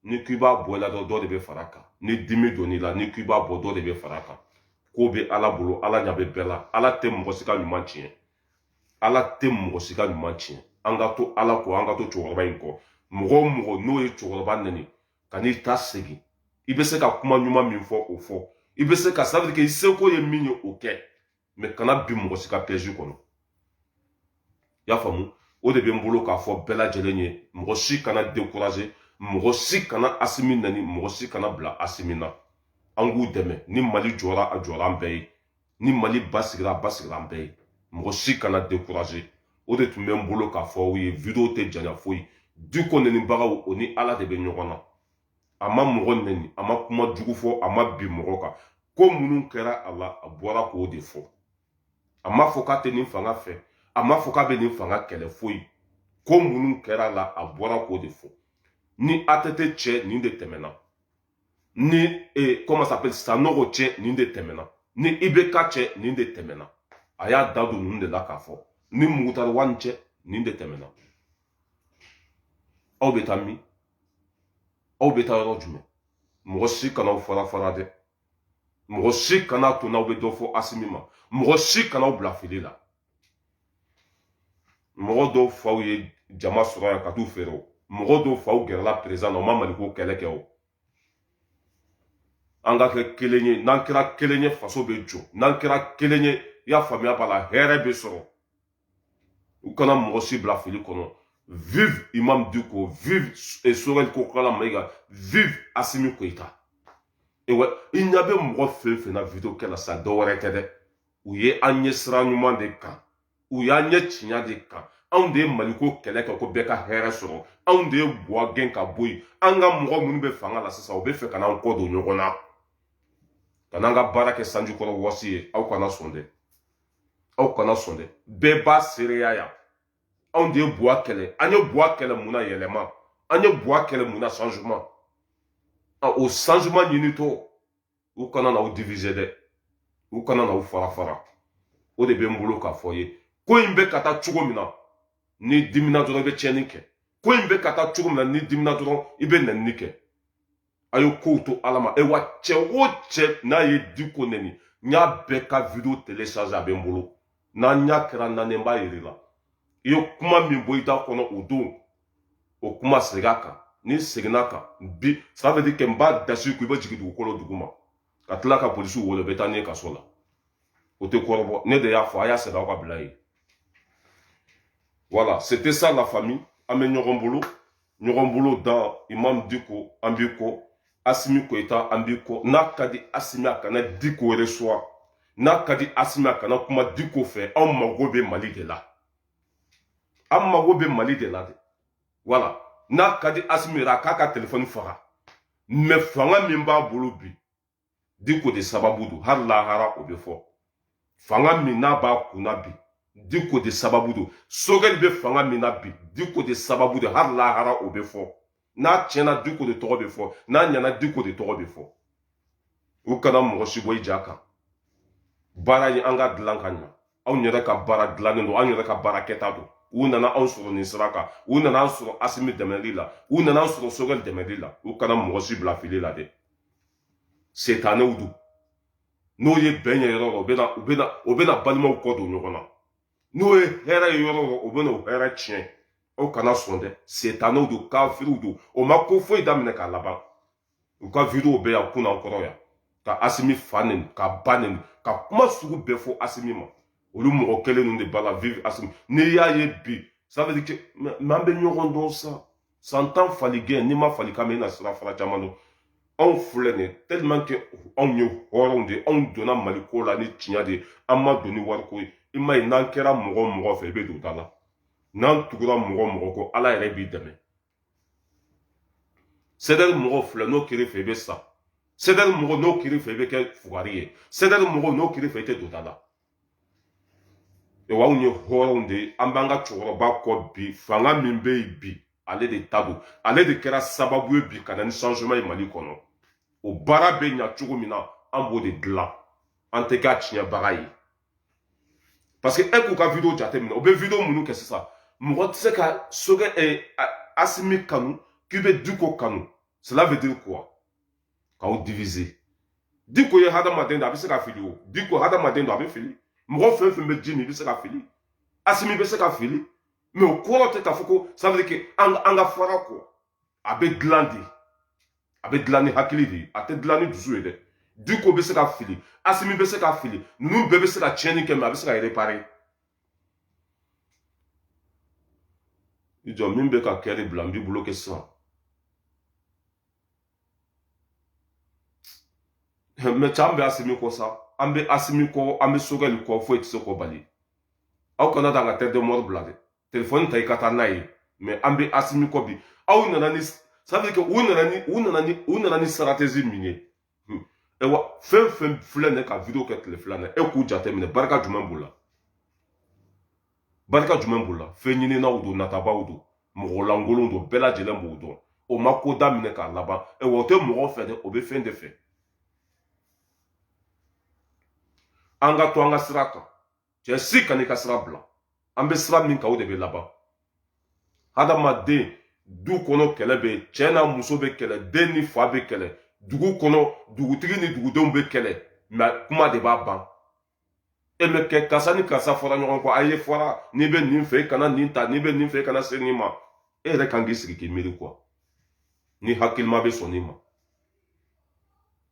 n'i k'i b'a bɔ i la dɔrɔn dɔ de bɛ far'a kan ni dimi donn'i la n'i k'i b'a bɔ dɔ de bɛ far'a kan ko bɛ ala bolo ala ɲa bɛ bɛɛ la ala tɛ mɔgɔ si ka ɲuman tiɲɛ ala tɛ mɔgɔ si ka ɲuman tiɲɛ an ka to ala kɔ an ka to cɛkɔrɔba in kɔ mɔgɔ o mɔgɔ n'o ye cɛkɔrɔba nɛni kan'i ta segin i bɛ se ka kuma ɲuman min fɔ o fɔ i bɛ se ka sabali kɛ i seko ye min ye o kɛ mɛ kana bin mɔgɔ si ka pɛzi kɔnɔ y'a faamu o de bɛ n bolo k'a fɔ bɛɛ lajɛlen ye mɔgɔ si kana dekuraze mɔgɔ si kana asimi nɛni mɔgɔ si kana bila asimi na an k'u dɛmɛ ni mali jɔra a jɔra an bɛɛ ye ni mali basigira a basigira an bɛɛ ye mɔgɔ si kana dekuraze o de tun bɛ n bolo k'a fɔ aw ye video tɛ janya foyi diko nɛnibagaw u ni ala de bɛ ɲɔgɔn na a ma mɔgɔ nɛni a ma kuma jugu fɔ a ma bin mɔgɔ kan ko minnu kɛra a la a bɔra k'o de fɔ a ma fɔ k'a tɛ nin fanga fɛ a ma fɔ k'a bɛ nin fanga kɛlɛ foyi ko minnu kɛra a la a bɔra k'o de fɔ ni atete cɛ nin de tɛmɛna ni e, comment s'appelle sanogo cɛ nin de tɛmɛna ni ibeka cɛ nin de tɛmɛna a y'a da don ninnu de la k'a fɔ ni mukutari wani cɛ nin de tɛmɛna aw bɛ taa min aw bɛ taa yɔrɔ jumɛn mɔgɔ si kana aw fara fara dɛ mɔgɔ si kana to n'aw bɛ dɔ fɔ asimi ma mɔgɔ si kana aw bila fili la mɔgɔ dɔw faw ye jama sɔrɔ yan ka t'u feere o mɔgɔ dɔw faw gɛrɛla perezan na o ma maliko kɛlɛ kɛ o an ka kɛ kelen ye n'an kɛra kelen ye faso bɛ jɔ n'an kɛra kelen ye i y'a faamuya b'a la hɛrɛ bɛ sɔrɔ u kana mɔgɔ si bila fili kɔnɔ vive imam diko vive eh, choguel kokala maiga vive asimi koita ewa i ɲa bɛ mɔgɔ fɛn fɛn na video kɛ la sa dɔ wɛrɛ tɛ dɛ u ye an ɲɛ sira ɲuman de kan u y'an ɲɛ tiɲɛ de kan anw de ye maliko kɛlɛ kɛ ko bɛɛ ka hɛrɛ sɔrɔ anw de ye buwa gɛn ka bɔ yen an ka mɔgɔ minnu bɛ fanga la sisan u b'a fɛ ka n'an kɔ don ɲɔgɔn na ka n'an ka baara kɛ sanjikɔrɔ wɔsi ye aw kana sɔn dɛ aw kana sɔn dɛ bɛɛ b'a seereya yan anw de ye buwa kɛlɛ an ye buwa kɛlɛ mun na yɛlɛma an ye buwa kɛlɛ mun na changement o changement ɲinitɔ u kana n'aw diviser dɛ u kana n'aw fara fara o de bɛ n bolo k'a f'aw ye ko in bɛ ka taa cogo min na n'i dimina dɔrɔn i bɛ tiɲɛni kɛ ko in bɛ ka taa cogo min na n'i dimina dɔrɔn i bɛ nɛni kɛ a ye kow to ala ma awa cɛ o cɛ n'a ye diko nɛni n y'a bɛɛ ka video télécharger a bɛ n bolo n'an ɲa kɛra naani n b'a yir'i la i ye kuma min bɔ i da kɔnɔ o don o kuma segin a kan n'i seginn'a kan bi ça veut dire que n b'a dasi ko i bɛ jigin dugukolo duguma ka tila ka polisiw wele bɛ taa n'i ye kaso la o tɛ kɔrɔbɔ ne de y'a fɔ a y'a sɛbɛn aw k'a bila yen voilà c'était ça la famille an bɛ ɲɔgɔn bolo ɲɔgɔn bolo dan imam diko an b'i kɔ asimi koyita an b'i kɔ n'a ka di asimi a kana diko yɛrɛ suwa n'a ka di asimi a kana kuma diko fɛ anw mago bɛ mali de la an mago bɛ mali de la dɛ wala n'a ka di asimi yɛrɛ a k'a ka telefɔni faga mais fanga min b'a bolo bi diko de sababu don hali lahara o bɛ fɔ fanga min n'a b'a kun na bi diko de sababu don sogɛli bɛ fanga min na bi diko de sababu don hali lahara o bɛ fɔ n'a tiɲɛna diko de tɔgɔ bɛ fɔ n'a ɲɛna diko de tɔgɔ bɛ fɔ u kana mɔgɔ si bɔ i ja kan baara ye an k'a dilan ka ɲɛ anw yɛrɛ ka baara dilannen don anw yɛrɛ ka baara kɛta don u nana anw sɔrɔ nin sira kan u nana an sɔrɔ asimi dɛmɛli la u nana an sɔrɔ sogɛli dɛmɛli la u kana mɔgɔ si bila fili la dɛ setanew don n'o ye bɛn ye yɔrɔ o bɛna u bɛna o bɛna balimaw kɔ don ɲɔgɔn na n'o ye hɛrɛ ye yɔrɔ o bɛna o hɛrɛ tiɲɛ aw kana sɔn dɛ setanew don kafiriw don o ma ko foyi daminɛ k'a laban u ka video bɛ yan kunna kɔrɔ yan ka asimi fa neni k'a ba neni ka kuma sugu bɛɛ fɔ asimi ma olu mɔgɔ kelen ninnu de b'a la vive asimi n'i y'a ye bi ça veut dire que mais an bɛ ɲɔgɔn dɔn sa san tan fali gɛn n'i ma fali kan mɛn i na sirafara caman dɔn anw filɛ nin tellement que anw ye hɔrɔnw de ye anw donna mali ko la ni tiɲɛ de ye an ma don ni wariko ye i m'a ye n'an kɛra mɔgɔ mɔgɔ fɛ i bɛ don da la n'an tugura mɔgɔ mɔgɔ kɔ ala yɛrɛ b'i dɛmɛ sɛdɛri mɔgɔ filɛ n'o kɛr'i fɛ i bɛ sa sɛdɛri mɔgɔ n'o kɛr'i fɛ i bɛ kɛ fugari ye sɛdɛri mɔgɔ n'o kɛr'i fɛ i tɛ don da la anw ye hɔrɔnw de ye an b'an ka cɛkɔrɔba kɔ bi fanga min bɛ yen bi ale de ta don ale de kɛra sababu ye bi ka na ni changement ye mali kɔnɔ o baara bɛ ɲa cogo min na an b'o de dilan an tɛ k'a tiɲɛbaga ye parce que e k'u ka video jateminɛ u bɛ video minnu kɛ sisan mɔgɔ tɛ se ka sokɛ eh, asimi kanu k'i bɛ diko kanu cela veut dire quoi k'aw diviser diko ye hadamaden de a bɛ se ka fili o diko hadamaden don a bɛ fili mɔgɔ fɛn fɛn bɛ ji min i bɛ se ka fili asimi bɛ se ka fili mɛ o kɔrɔ tɛ k'a fɔ ko ça veut dire que an ka far'a kɔ a bɛ dilan de a bɛ dilan ni hakili de ye a tɛ dilan ni dusu ye dɛ diko bɛ se ka fili asimi bɛ se ka fili ninnu bɛɛ bɛ se ka tiɲɛni kɛ mɛ a bɛ se ka repare i jɔ min bɛ ka kɛ de bila n b'i bolo kɛ sisan mɛ cɛ an bɛ asimi kɔ sa an bɛ asimi kɔ an bɛ sogɛli kɔ foyi tɛ se k'o bali aw kana taa ka tɛ dɔmɔri bila dɛ telefɔni ta i ka taa n'a ye mɛ an bɛ asimi kɔ bi aw nana ni sabu kɛ u nana ni u nana ni u nana ni stratégie min ye ayiwa hmm. fɛn fɛn filɛ nin ka video kɛ tile fila na e k'u jateminɛ barika jumɛn b'u la barika jumɛn b'u la fɛnɲininaw don natabaw don mɔgɔ lankolon don bɛɛ lajɛlen b'u dɔn o ma ko daminɛ k'a laban ayiwa o tɛ mɔgɔ fɛ dɛ o bɛ fɛn de fɛ an ka to an ka sira kan cɛ si kan'i ka sira bila an bɛ sira min kan o de bɛ laban hadamaden du kɔnɔ kɛlɛ bɛ yen cɛ n'a muso bɛ kɛlɛ den ni fa bɛ kɛlɛ dugu kɔnɔ dugutigi ni dugudenw bɛ kɛlɛ mɛ kuma de b'a ban e bɛ kɛ karisa ni karisa fɔra ɲɔgɔn kɔ a ye fɔra n'i bɛ nin fɛ i kana nin ta n'i bɛ nin fɛ i kana se nin ma e yɛrɛ kan k'i sigi k'i miiri quoi ni hakilima bɛ sɔn nin ma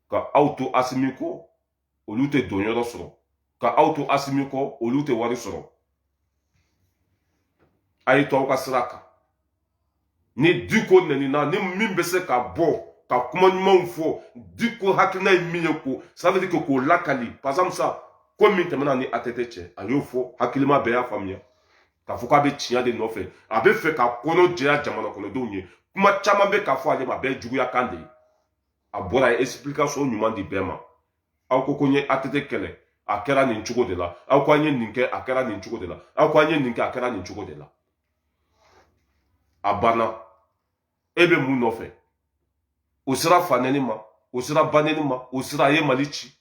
ka aw to asimi kɔ olu tɛ don yɔrɔ sɔrɔ ka aw to asimi kɔ olu tɛ wari sɔrɔ a ye to aw ka sira kan ni diko nanina ni min bɛ se ka bɔ ka kuma ɲumanw fɔ diko hakilina ye min ye ko sabali kɛ k'o lakali pasamisa ko min tɛmɛna ni atete cɛ a y'o fɔ hakilima bɛɛ y'a faamuya k'a fɔ k'a bɛ tiɲɛ de nɔfɛ a bɛ fɛ ka kɔnɔ jɛya jamana kɔnɔdenw ye kuma caman bɛ k'a fɔ ale ma a bɛɛ juguya kan de ye a bɔra a ye explication ɲuman di bɛɛ ma aw ko ko n ye atete kɛlɛ a kɛra nin cogo de la aw ko an ye nin kɛ a kɛra nin cogo de la aw ko an ye nin kɛ a kɛra nin cogo de la a banna e bɛ mun nɔfɛ o sera fanɛni ma o sera banɛni ma o sera a ye mali ci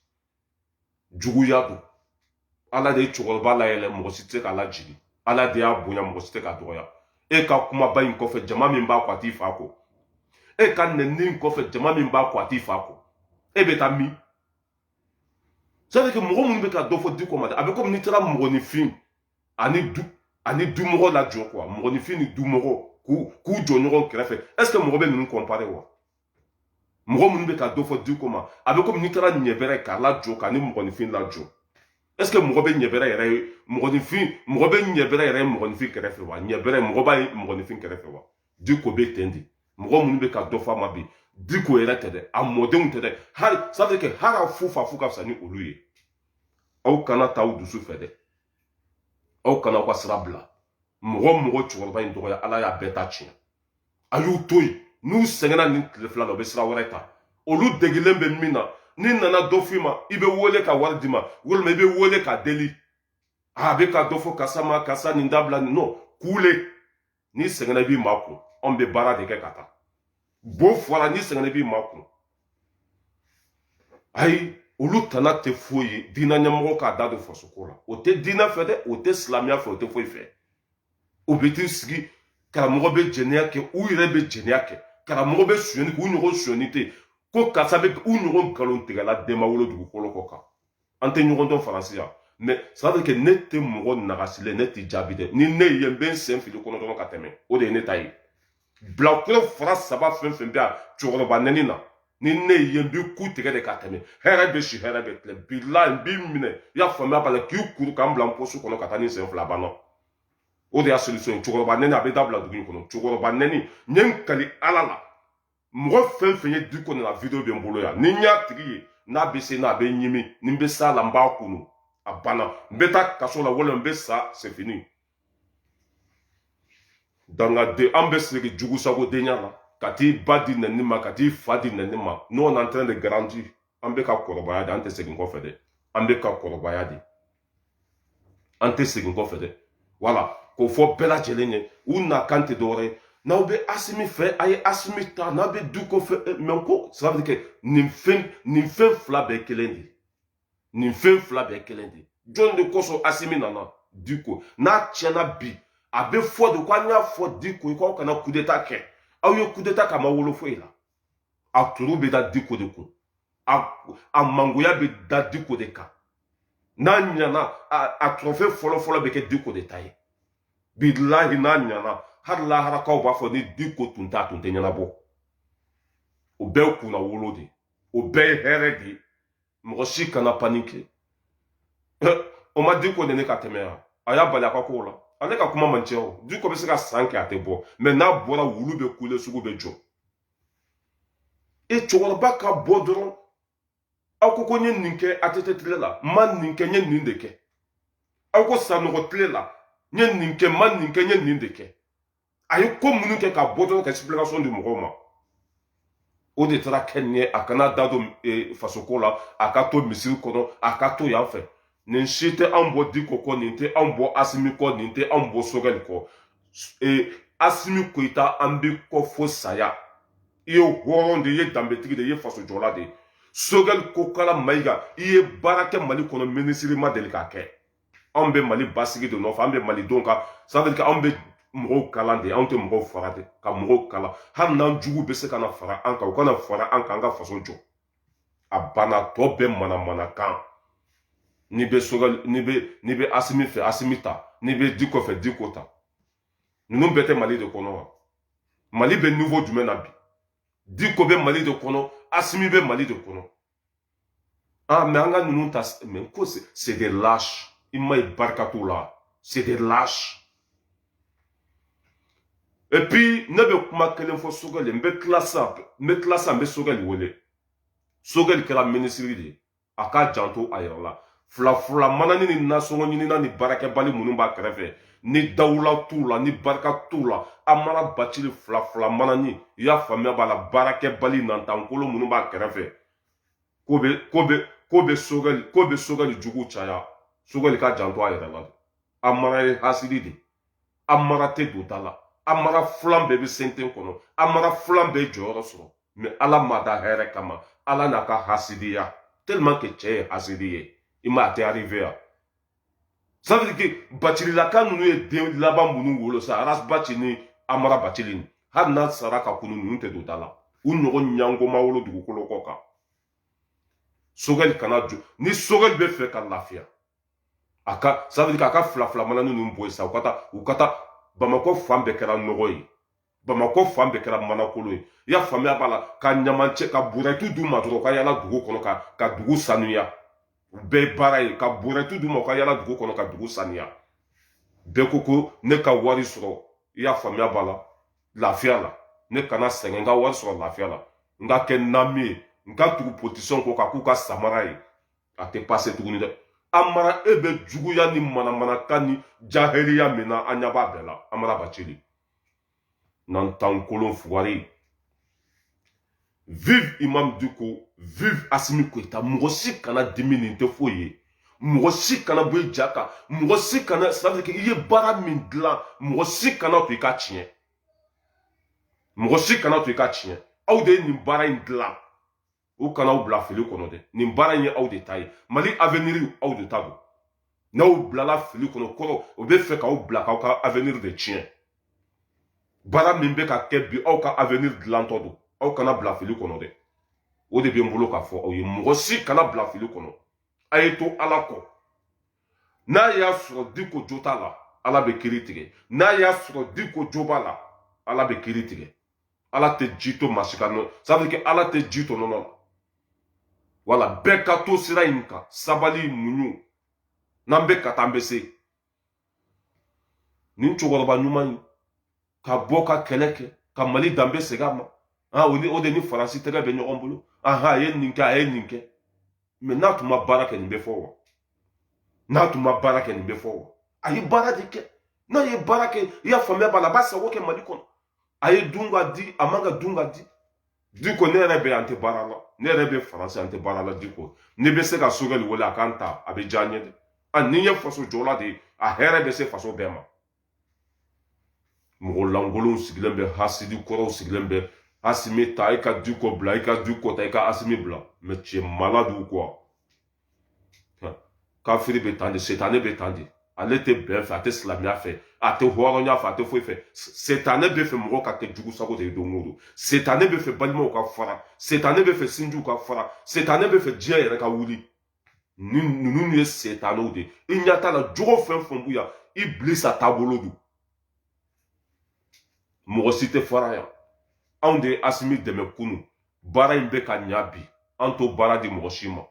juguya don ala de ye cɛkɔrɔba layɛlɛn mɔgɔ si tɛ se k'a lajigin ala de y'a bonya mɔgɔ si tɛ k'a dɔgɔya e ka kumaba in kɔfɛ jama min b'a kɔ a t'i fa kɔ e ka nɛni in kɔfɛ jama min b'a kɔ a t'i fa kɔ e bɛ taa min c'est que mɔgɔ minnu bɛ ka dɔ fɔ diko ma dɛ a bɛ komi n'i taara mɔgɔninfin ani du ani dimɔgɔ lajɔ quoi mɔgɔninfin ni dimɔgɔ k'u k'u jɔ ɲɔgɔn kɛrɛfɛ est ce que mɔgɔ bɛ ninnu kɔnpare wa mɔgɔ minnu bɛ ka dɔ fɔ diko ma a bɛ komi n'i taara ɲɛbɛrɛ k'a lajɔ k'a ni mɔgɔninfin lajɔ est ce que mɔgɔ bɛ ɲɛbɛrɛ yɛrɛ ye mɔgɔninfin mɔgɔ bɛ ɲɛbɛrɛ yɛrɛ ye mɔgɔninfin kɛrɛfɛ wa ɲɛbɛrɛ mɔgɔ b'a ye mɔgɔninfin kɛrɛfɛ wa diko bɛ ten de mɔgɔ minnu bɛ ka dɔ fɔ a ma bi diko yɛrɛ tɛ dɛ a mɔdenw tɛ dɛ hali sadi kɛ hali a fu fa fu ka fisa ni olu ye aw kana taa aw dusu fɛ dɛ aw kana aw ka sira bila mɔgɔ mɔgɔ cɛkɔrɔba in dɔgɔya ala y'a bɛɛ ta tiɲɛ a y'u to yen n'u sɛgɛnna nin tile fila la u bɛ sira wɛrɛ ta olu degilen bɛ min na n'i nana dɔ f'i ma i bɛ wele ka wari d'i ma walima i bɛ wele ka deli a bɛ ka dɔ fɔ karisa ma karisa nin dabila nin nɔ kuule n'i sɛgɛnna i b'i makun anw bɛ baara de kɛ ka taa bo fɔra n'i sɛgɛnna i b'i makun ayi olu tana tɛ foyi ye diinɛ ɲɛmɔgɔ k'a da don fasoko la o tɛ diinɛ fɛ dɛ o tɛ silamɛya fɛ o tɛ foyi fɛ o bɛ t'i sigi karamɔgɔ bɛ jɛnɛya kɛ u yɛrɛ bɛ jɛnɛya kɛ karamɔgɔ bɛ sonyani kɛ u ɲɔgɔn sonyani tɛ ko karisa bɛ u ɲɔgɔn nkalontigɛla de ma wolo dugukolo kɔ kan an tɛ ɲɔgɔn dɔn faransi yan mɛ sadi kɛ ne tɛ mɔgɔ nagasilen ne tɛ jaabi dɛ ni ne ye n bɛ n sen fili i kɔnɔ dɔrɔn ka tɛmɛ o de ye ne ta ye bilakoro fara saba fɛn fɛn bɛ yan cɛkɔrɔba nɛni na ni ne ye n b'i ku tigɛ de ka tɛmɛ hɛrɛ bɛ si hɛrɛ bɛ tilen bilayi n b'i minɛ i y'a faamuya b'a la k'i kuru k'i bila n posi kɔnɔ ka taa ni sen fila a banna o de y'a solution ye cɛkɔrɔba nɛni a bɛ dabila dugu in kɔnɔ cɛkɔrɔba nɛni n ye n kali ala la mɔgɔ fɛn fɛn ye diko nɛni a video bɛ n bolo yan ni n y'a tigi ye n'a bɛ se n na a bɛ n ɲimi ni n bɛ s'a la n b'a kunu a banna n bɛ taa kaso la walima n bɛ sa c'est fini danga de an bɛ siri jugu sago denya la ka t'i ba di nɛni ma ka t'i fa di nɛni ma n'o an tɛnɛ de garanti an bɛ ka kɔrɔbaya de an tɛ segin kɔfɛ dɛ an bɛ ka kɔrɔbaya de an tɛ segin kɔfɛ dɛ wala k'o fɔ bɛɛ lajɛlen ye u nakan tɛ dɔwɛrɛ ye n'aw bɛ asimi fɛ a ye asimi ta n'a bɛ diko fɛ mɛ ko sira bɛ kɛ nin fɛn nin fɛn fila bɛɛ kelen de ye nin fɛn fila bɛɛ kelen de jɔn de kosɔn asimi nana diko n'a tiɲɛna bi a bɛ fɔ de ko an y'a fɔ diko ye k'aw kana kudeta kɛ aw ye kudeta k'a ma wolo foyi la a turu bɛ da diko de kun a mangoya bɛ da diko de kan n'a ɲana a trophée fɔlɔfɔlɔ bɛ kɛ diko de ta ye bilahi n'a ɲana hali laharakaw b'a fɔ ni diko tun t'a tun tɛ ɲɛnabɔ o bɛɛ kunnawolo de o bɛɛ ye hɛrɛ de ye mɔgɔ si kana panike o ma diko nɛni ka tɛmɛ yan a y'a bali a ka kow la ale ka kuma man ca o diko bɛ se ka san kɛ a tɛ bɔ mais n'a bɔra wulu bɛ kule sugu bɛ jɔ e cɛkɔrɔba ka bɔ dɔrɔn aw ko ko n ye nin kɛ ATT tile la n ma nin kɛ n ye nin de kɛ aw ko sanɔgɔ tile la n ye nin kɛ n ma nin kɛ n ye nin de kɛ a ye ko minnu kɛ ka bɔ dɔrɔn ka explication di mɔgɔw ma o de taara kɛ nin ye a kana da don e, fasoko la a ka to misiri kɔnɔ a ka to yan fɛ nin si tɛ anw bɔ diko kɔ nin tɛ anw bɔ asimi kɔ nin tɛ anw bɔ sogɛli kɔ e, asimi koyita an b'i kɔ fo saya i ye hɔrɔn de i ye danbetigi de i ye fasojɔla de ye sogɛli kokala mayiga i ye baara kɛ mali kɔnɔ minisiri ma deli k'a kɛ anw bɛ mali basigi de nɔfɛ an bɛ malidenw ka sabali anw bɛ mɔgɔw kalan de anw tɛ mɔgɔw faga de ka mɔgɔw kalan hali n'an jugu bɛ se ka na fara an kan u ka na fara an kan an ka faso jɔ a banna tɔ bɛɛ manamanakan n'i bɛ sogɛli n'i bɛ n'i bɛ asimi fɛ asimi ta n'i bɛ diko fɛ diko ta ninnu bɛɛ tɛ mali de kɔnɔ wa mali bɛ niveau jumɛn na bi diko bɛ mali de kɔnɔ asimi bɛ mali de kɔnɔ Ah, mais an ka ninnu ta mais ko c'est des lâches i m'a ye barika t'u la c'est des lâches et puis ne bɛ kuma kelen fɔ sogɛli n bɛ tila sisan n bɛ tila sisan n bɛ sogɛli wele sogɛli kɛra minisiri de ye a k'a janto a yɛrɛ la fila fila manani ni nasɔngɔ ɲinina ni baarakɛbali minnu b'a kɛrɛfɛ ni dawula t'u la ni barika t'u la amara bacili fila fila manani i y'a faamuya b'a la baarakɛbali nantankolo minnu b'a kɛrɛfɛ ko bɛ ko bɛ ko bɛ sogɛli ko bɛ sogɛli jugu caya sogɛli k'a janto a yɛrɛ la amara ye hasidi de amara tɛ don da la amara filan bɛɛ bɛ senten kɔnɔ amara filan bɛɛ jɔyɔrɔ sɔrɔ mɛ ala m'a da hɛrɛ kama ala n'a ka hasidiya tellement que cɛ ye hasidi ye i ma a tɛ arrive yan ça veut dire que bacililaka ninnu ye den laban minnu wolo sa ras baci ni amara bacili ni hali n'a sara ka kunu ninnu tɛ don da la u ɲɔgɔn ɲɛngo ma wolo dugukolo kɔ kan sogɛli kana jɔ ni sogɛli bɛ fɛ ka lafiya a ka ça veut dire k'a ka fila fila mana ninnu bɔ yen sa u ka taa u ka taa bamakɔ fan bɛɛ kɛra nɔgɔ ye bamakɔ fan bɛɛ kɛra manakolo ye i y'a faamuya b'a la ka ɲamancɛ ka burɛtu d'u ma dɔrɔn u ka yala dugu kɔnɔ ka ka dugu sanuya u bɛɛ ye baara ye ka burɛtu d'u ma u ka yala dugu kɔnɔ ka dugu sanuya bɛɛ ko ko ne ka wari sɔrɔ i y'a faamuya b'a la lafiya la ne kana sɛgɛn n ka wari sɔrɔ lafiya la n ka kɛ nami ye n ka tugu politisiyɛnw kɔ ka k'u ka samara ye a tɛ pase tuguni dɛ amara e bɛ juguya ni manamanakan ni jahiliya min na an ɲɛ b'a bɛɛ la amara bacili nantan kolon fugari vive imam diko vive asimi koyita mɔgɔ si kana dimi nin tɛ foyi ye mɔgɔ si kana bɔ i ja kan mɔgɔ si kana ça veut dire que i ye baara min dilan mɔgɔ si kana to i ka tiɲɛ mɔgɔ si kana to i ka tiɲɛ aw de ye nin baara in dilan u kana aw bila fili kɔnɔ dɛ nin baara in ye aw de ta ye mali aveniriw aw de ta don n'aw bilala fili kɔnɔ kɔrɔ o bɛ fɛ k'aw bila k'aw ka avenir de tiɲɛ baara min bɛ ka kɛ bi aw ka avenir dilantɔ don aw kana bila fili kɔnɔ dɛ o de bɛ n bolo k'a fɔ aw ye mɔgɔ si kana bila fili kɔnɔ a ye to ala kɔ n'a y'a sɔrɔ diko jo t'a la ala bɛ kiri tigɛ n'a y'a sɔrɔ diko jo b'a la ala bɛ kiri tigɛ ala tɛ ji to masi ka nɔ sabu kɛ ala tɛ ji to nɔnɔ la wala bɛɛ ka to sira in kan sabali muɲu n'an bɛ ka taa an bɛ se nin cɛkɔrɔba ɲuman in ka bɔ ka kɛlɛ kɛ ka mali danbe segin a ma ah o ni o de ni faransi tɛgɛ bɛ ɲɔgɔn bolo aha a ye nin kɛ a ye nin kɛ mɛ n'a tun ma baara kɛ nin bɛ fɔ wa n'a tun ma baara kɛ nin bɛ fɔ wa a ye baara de kɛ n'a ye baara kɛ i y'a faamuya b'a la a b'a sago kɛ mali kɔnɔ a ye dun ka di a man ka dun ka di di ko ne yɛrɛ bɛ an tɛ baara la ne yɛrɛ bɛ faransi an tɛ baara la di ko ne bɛ se ka sogɛli wele a k'an ta a bɛ diya n ye dɛ a ni n ye faso jɔla de ye a hɛrɛ bɛ se faso bɛɛ ma mɔgɔ lankolonw sigilen bɛ hasidi kɔrɔw sigilen bɛ asimi ta i ka diko bila i ka diko ta i ka asimi bila mɛ cɛ mala diko kafiri bɛ tan de setane bɛ tan de ale tɛ bɛn fɛ a tɛ silamɛya fɛ a tɛ hɔrɔnya fɛ a tɛ foyi fɛ setane bɛ fɛ mɔgɔ ka kɛ jugu sago de ye don o don setane bɛ fɛ balimaw ka fara setane bɛ fɛ sinjiw ka fara setane bɛ fɛ diɲɛ yɛrɛ ka wuli ni ninnu ye setanew de i ɲɛ t'a la jogo fɛn fɛn b'u yan ibilisa taabolo don mɔgɔ si tɛ fara yan anw de ye asimi dɛmɛ kunu baara in bɛ ka ɲa bi an t'o baara di mɔgɔ si ma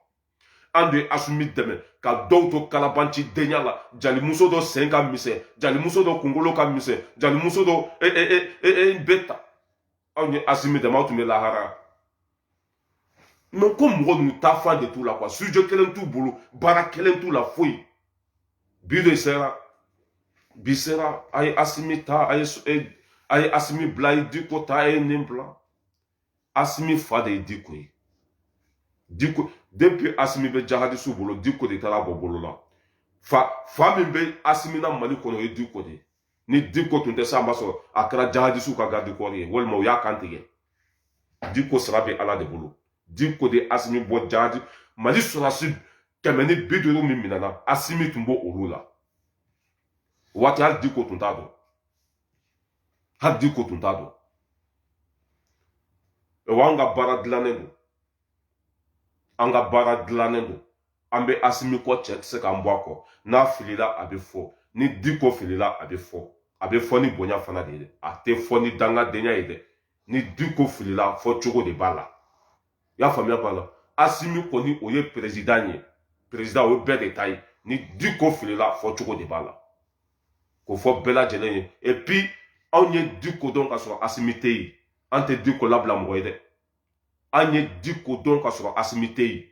an bɛ asimi dɛmɛ ka dɔw to kalabanci denya la jalimuso dɔ sen ka misɛn jalimuso dɔ kunkolo ka misɛn jalimuso dɔ e e e e e bɛ ta aw ni asimi dɛmɛ aw tun bɛ lahara mais ko mɔgɔ ninnu taa fan de t'u la quoi sujet kelen t'u bolo baara kelen t'u la foyi bi de sera bi sera a ye asimi ta a ye a ye asimi bila a ye diko ta a ye nin bila asimi fa de ye diko ye diko depuis asimi bɛ jahadisu bolo diko de taara bɔ bolo la fa fa min bɛ asimi na mali kɔnɔ o ye diko de ye ni diko tun tɛ sisan b'a sɔrɔ a kɛra jahadisu ka gadikɔri ye walima u y'a kan tigɛ diko sara bɛ ala de bolo diko de asimi bɔ jahadi mali sɔrɔsi kɛmɛ ni bi duuru min minɛna asimi tun b'olu la waati hali diko tun t'a dɔn hali diko tun t'a dɔn o an ka baara dilannen don an ka baara dilannen don an bɛ asimi kɔ cɛ tɛ se k'an bɔ a kɔ n'a filila a bɛ fɔ ni diko filila a bɛ fɔ a bɛ fɔ ni bonya fana de ye dɛ a tɛ fɔ ni dangadenya ye dɛ ni diko filila fɔcogo de b'a la i y'a faamuya b'a la asimi kɔni o ye perezidan ye perezidan o ye bɛɛ de ta ye ni diko filila fɔcogo de b'a la k'o fɔ bɛɛ lajɛlen ye et puis anw ye diko dɔn ka sɔrɔ asimi tɛ yen an tɛ diko labila mɔgɔ ye dɛ an ye diko dɔn ka sɔrɔ asimi tɛ yen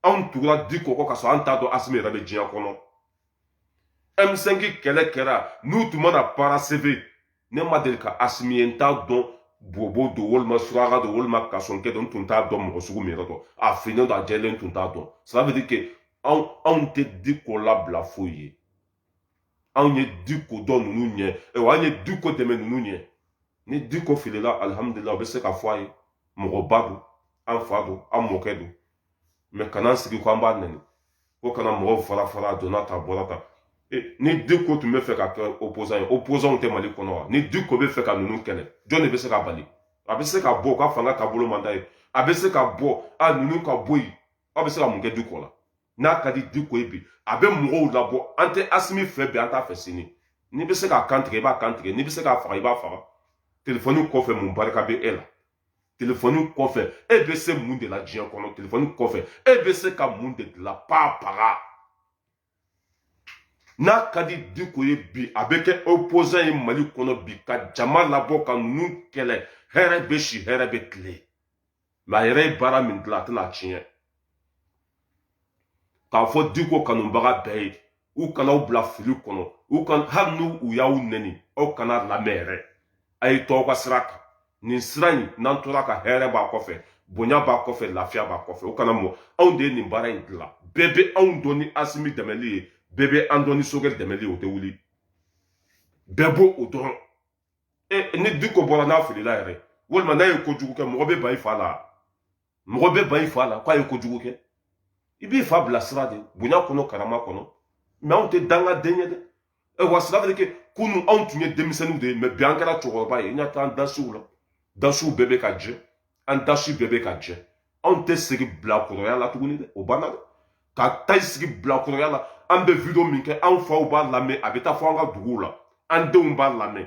anw tugura diko kɔ ka sɔrɔ an t'a dɔn asimi yɛrɛ bɛ diɲɛ kɔnɔ m5 kɛlɛ kɛra n'u tun ma na parce que ne ma deli ka asimi ye n t'a dɔn bobo don walima suraka don walima kasonkɛ don n tun t'a dɔn mɔgɔ sugu min yɛrɛ don a finnen don a jɛlen tun t'a dɔn ça veut dire que anw anw tɛ diko labila foyi ye anw ye diko dɔn ninnu ɲɛ wa an ye diko dɛmɛ ninnu ɲɛ ni diko filila alihamudulila u bɛ se k'a fɔ a ye mɔgɔba don an fa don an mɔkɛ don mais kana sigi ko an b'a nɛni ko kana mɔgɔw fara fara a donna tan bɔra tan ni diko tun bɛ fɛ ka kɛ opozan ye opozanw tɛ mali kɔnɔ wa ni diko bɛ fɛ ka ninnu kɛlɛ jɔn de bɛ se k'a bali a bɛ se ka bɔ ko fanga taabolo man d'a ye a bɛ se ka bɔ a ninnu ka bɔ yen aw bɛ se ka mun kɛ diko la n'a ka di diko ye bi a bɛ mɔgɔw labɔ an tɛ asimi fɛ bi an t'a fɛ sini n'i bɛ se k'a kan tigɛ i b'a kan tigɛ n'i bɛ se k'a faga i b'a faga telefɔni kɔfɛ mun barika bɛ e la telefɔni kɔfɛ e bɛ se mun de la diɲɛ kɔnɔ telefɔni kɔfɛ e bɛ se ka mun de dilan paa paga n'a ka di diko ye bi a bɛ kɛ opposant ye mali kɔnɔ bi ka jama labɔ ka ninnu kɛlɛ hɛrɛ bɛ si hɛrɛ bɛ tile mɛ a yɛrɛ ye baara min dilan a tɛna tiɲɛ k'a fɔ diko kanubaga bɛɛ ye u kana aw bila fili kɔnɔ u kan hali n'u u y'aw nɛni aw kan'u lamɛn yɛrɛ a ye to aw ka sira kan nin sira in n'an tora a kan hɛrɛ b'a kɔfɛ bonya b'a kɔfɛ lafiya b'a kɔfɛ o kana mɔ anw de ye nin baara in dilan bɛɛ bɛ anw dɔn ni asimi dɛmɛli ye bɛɛ bɛ an dɔn ni sogɛli dɛmɛli ye o tɛ wuli bɛɛ b'o o dɔrɔn e ni diko bɔra n'a filila yɛrɛ walima n'a ye kojugu kɛ mɔgɔ bɛ ban i fa la mɔgɔ bɛ ban i fa la k'a ye kojugu kɛ i b'i fa bila sira de bonya kɔnɔ karama kɔnɔ mɛ anw tɛ dangaden ye dɛ e wa sira de kɛ kunu anw tun ye denmisɛnninw de ye mɛ bi an kɛra cɛkɔrɔba ye n ka taa an dasiw la dasiw bɛɛ bɛ ka jɛ an dasi bɛɛ bɛ ka jɛ anw tɛ segin bilakɔrɔya la tuguni dɛ o banna dɛ ka taa i sigi bilakɔrɔya la an bɛ video min kɛ anw faw b'a lamɛn a bɛ taa fɔ an ka duguw la an denw b'a lamɛn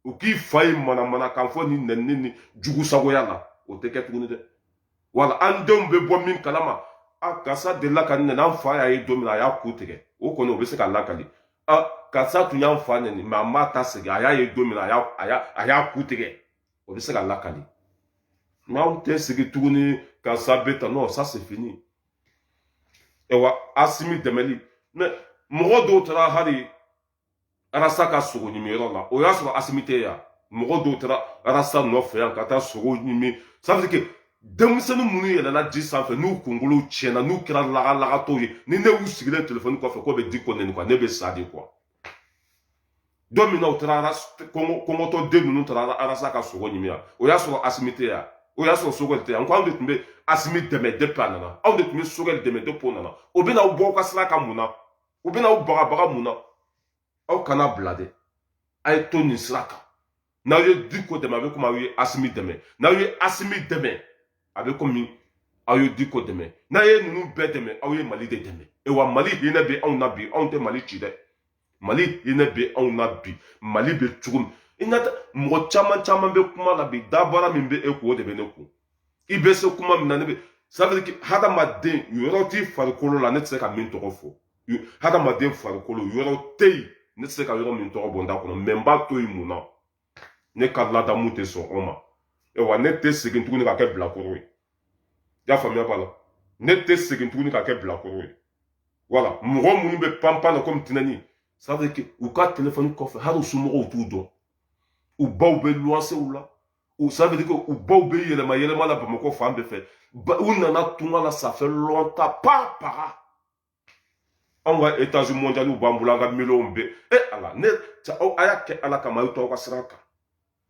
u k'i fa ye manamanakan fɔ nin nɛni ni jugu sagoya la o tɛ kɛ tuguni dɛ wala an denw bɛ bɔ min kalama a karisa delila k'a nɛni an fa y'a ye don min na a y'a ku tigɛ o kɔni o bɛ se ka lakali a karisa tun y'an fa nɛni mɛ an b'a ta segin a y'a ye don min na a y'a a y'a ku tigɛ o bɛ se ka lakali n'aw tɛ segin tuguni ka sa bɛ ta non ça c'est fini ɛwa asimi dɛmɛli mɛ mɔgɔ dɔw taara hali arasa ka sogo ɲimi yɔrɔ la o y'a sɔrɔ asimi tɛ yan mɔgɔ dɔw taara arasa nɔfɛ yan ka taa sogo ɲimi parce que denmisɛnnin minnu yɛlɛla ji sanfɛ n'u kunkolo tiɲɛna n'u kɛra lagalagatɔw ye ni ne y'u sigilen telefɔni kɔfɛ k'u bɛ diko nɛni kuwa ne bɛ sa de kuwa don min na u taara kɔngɔtɔ den ninnu taara arasa ka sogo ɲimi yan o y'a sɔrɔ asimi tɛ yan o y'a sɔrɔ sogɛli tɛ yan ko anw de tun bɛ asimi dɛmɛ depi a nana anw de tun bɛ sogɛli dɛmɛ depi o nana o bɛna aw bɔ aw ka sira kan mun na u bɛna aw bagabaga mun na aw kan'a bila dɛ a ye to nin sira kan n'aw ye diko dɛmɛ a bɛ komi aw ye asimi dɛmɛ n'aw ye asimi dɛmɛ a bɛ komi aw ye diko dɛmɛ n'a ye ninnu bɛɛ dɛmɛ aw ye mali de dɛmɛ e wa mali hinɛ bɛ anw na bi anw tɛ mali ci dɛ mali hinɛ bɛ anw na bi mali bɛ cogo min i na mɔgɔ caman caman bɛ kuma la bi dabara min bɛ e kun o de bɛ ne kun i bɛ se kuma min na ne bɛ sadiri hadamaden yɔrɔ t'i farikolo la ne tɛ se ka min tɔgɔ fɔ hadamaden farikolo yɔrɔ tɛ yen ne tɛ se ka yɔrɔ min tɔgɔ bɔ n da kɔnɔ mɛ n b'a to yen mun na ne ka ladamu tɛ sɔn o ma wa ne tɛ segin tuguni ka kɛ bilakoro ye i y'a faamuya b'a la ne tɛ segin tuguni ka kɛ bilakoro ye wala mɔgɔ minnu bɛ panpan na komi tinɛni ça veut dire u ka telefɔni kɔfɛ hali u somɔgɔw t'u dɔn u baw bɛ luwansew la u ça veut dire u baw bɛ yɛlɛma yɛlɛma la bamakɔ fan bɛɛ fɛ u nana tunga la ça fait longtemps pas para anw ka etazi mɔndiyaliw b'an bolo an ka miliyɔnw bɛ e ala ne aw a y'a kɛ ala kama aw to aw ka sira kan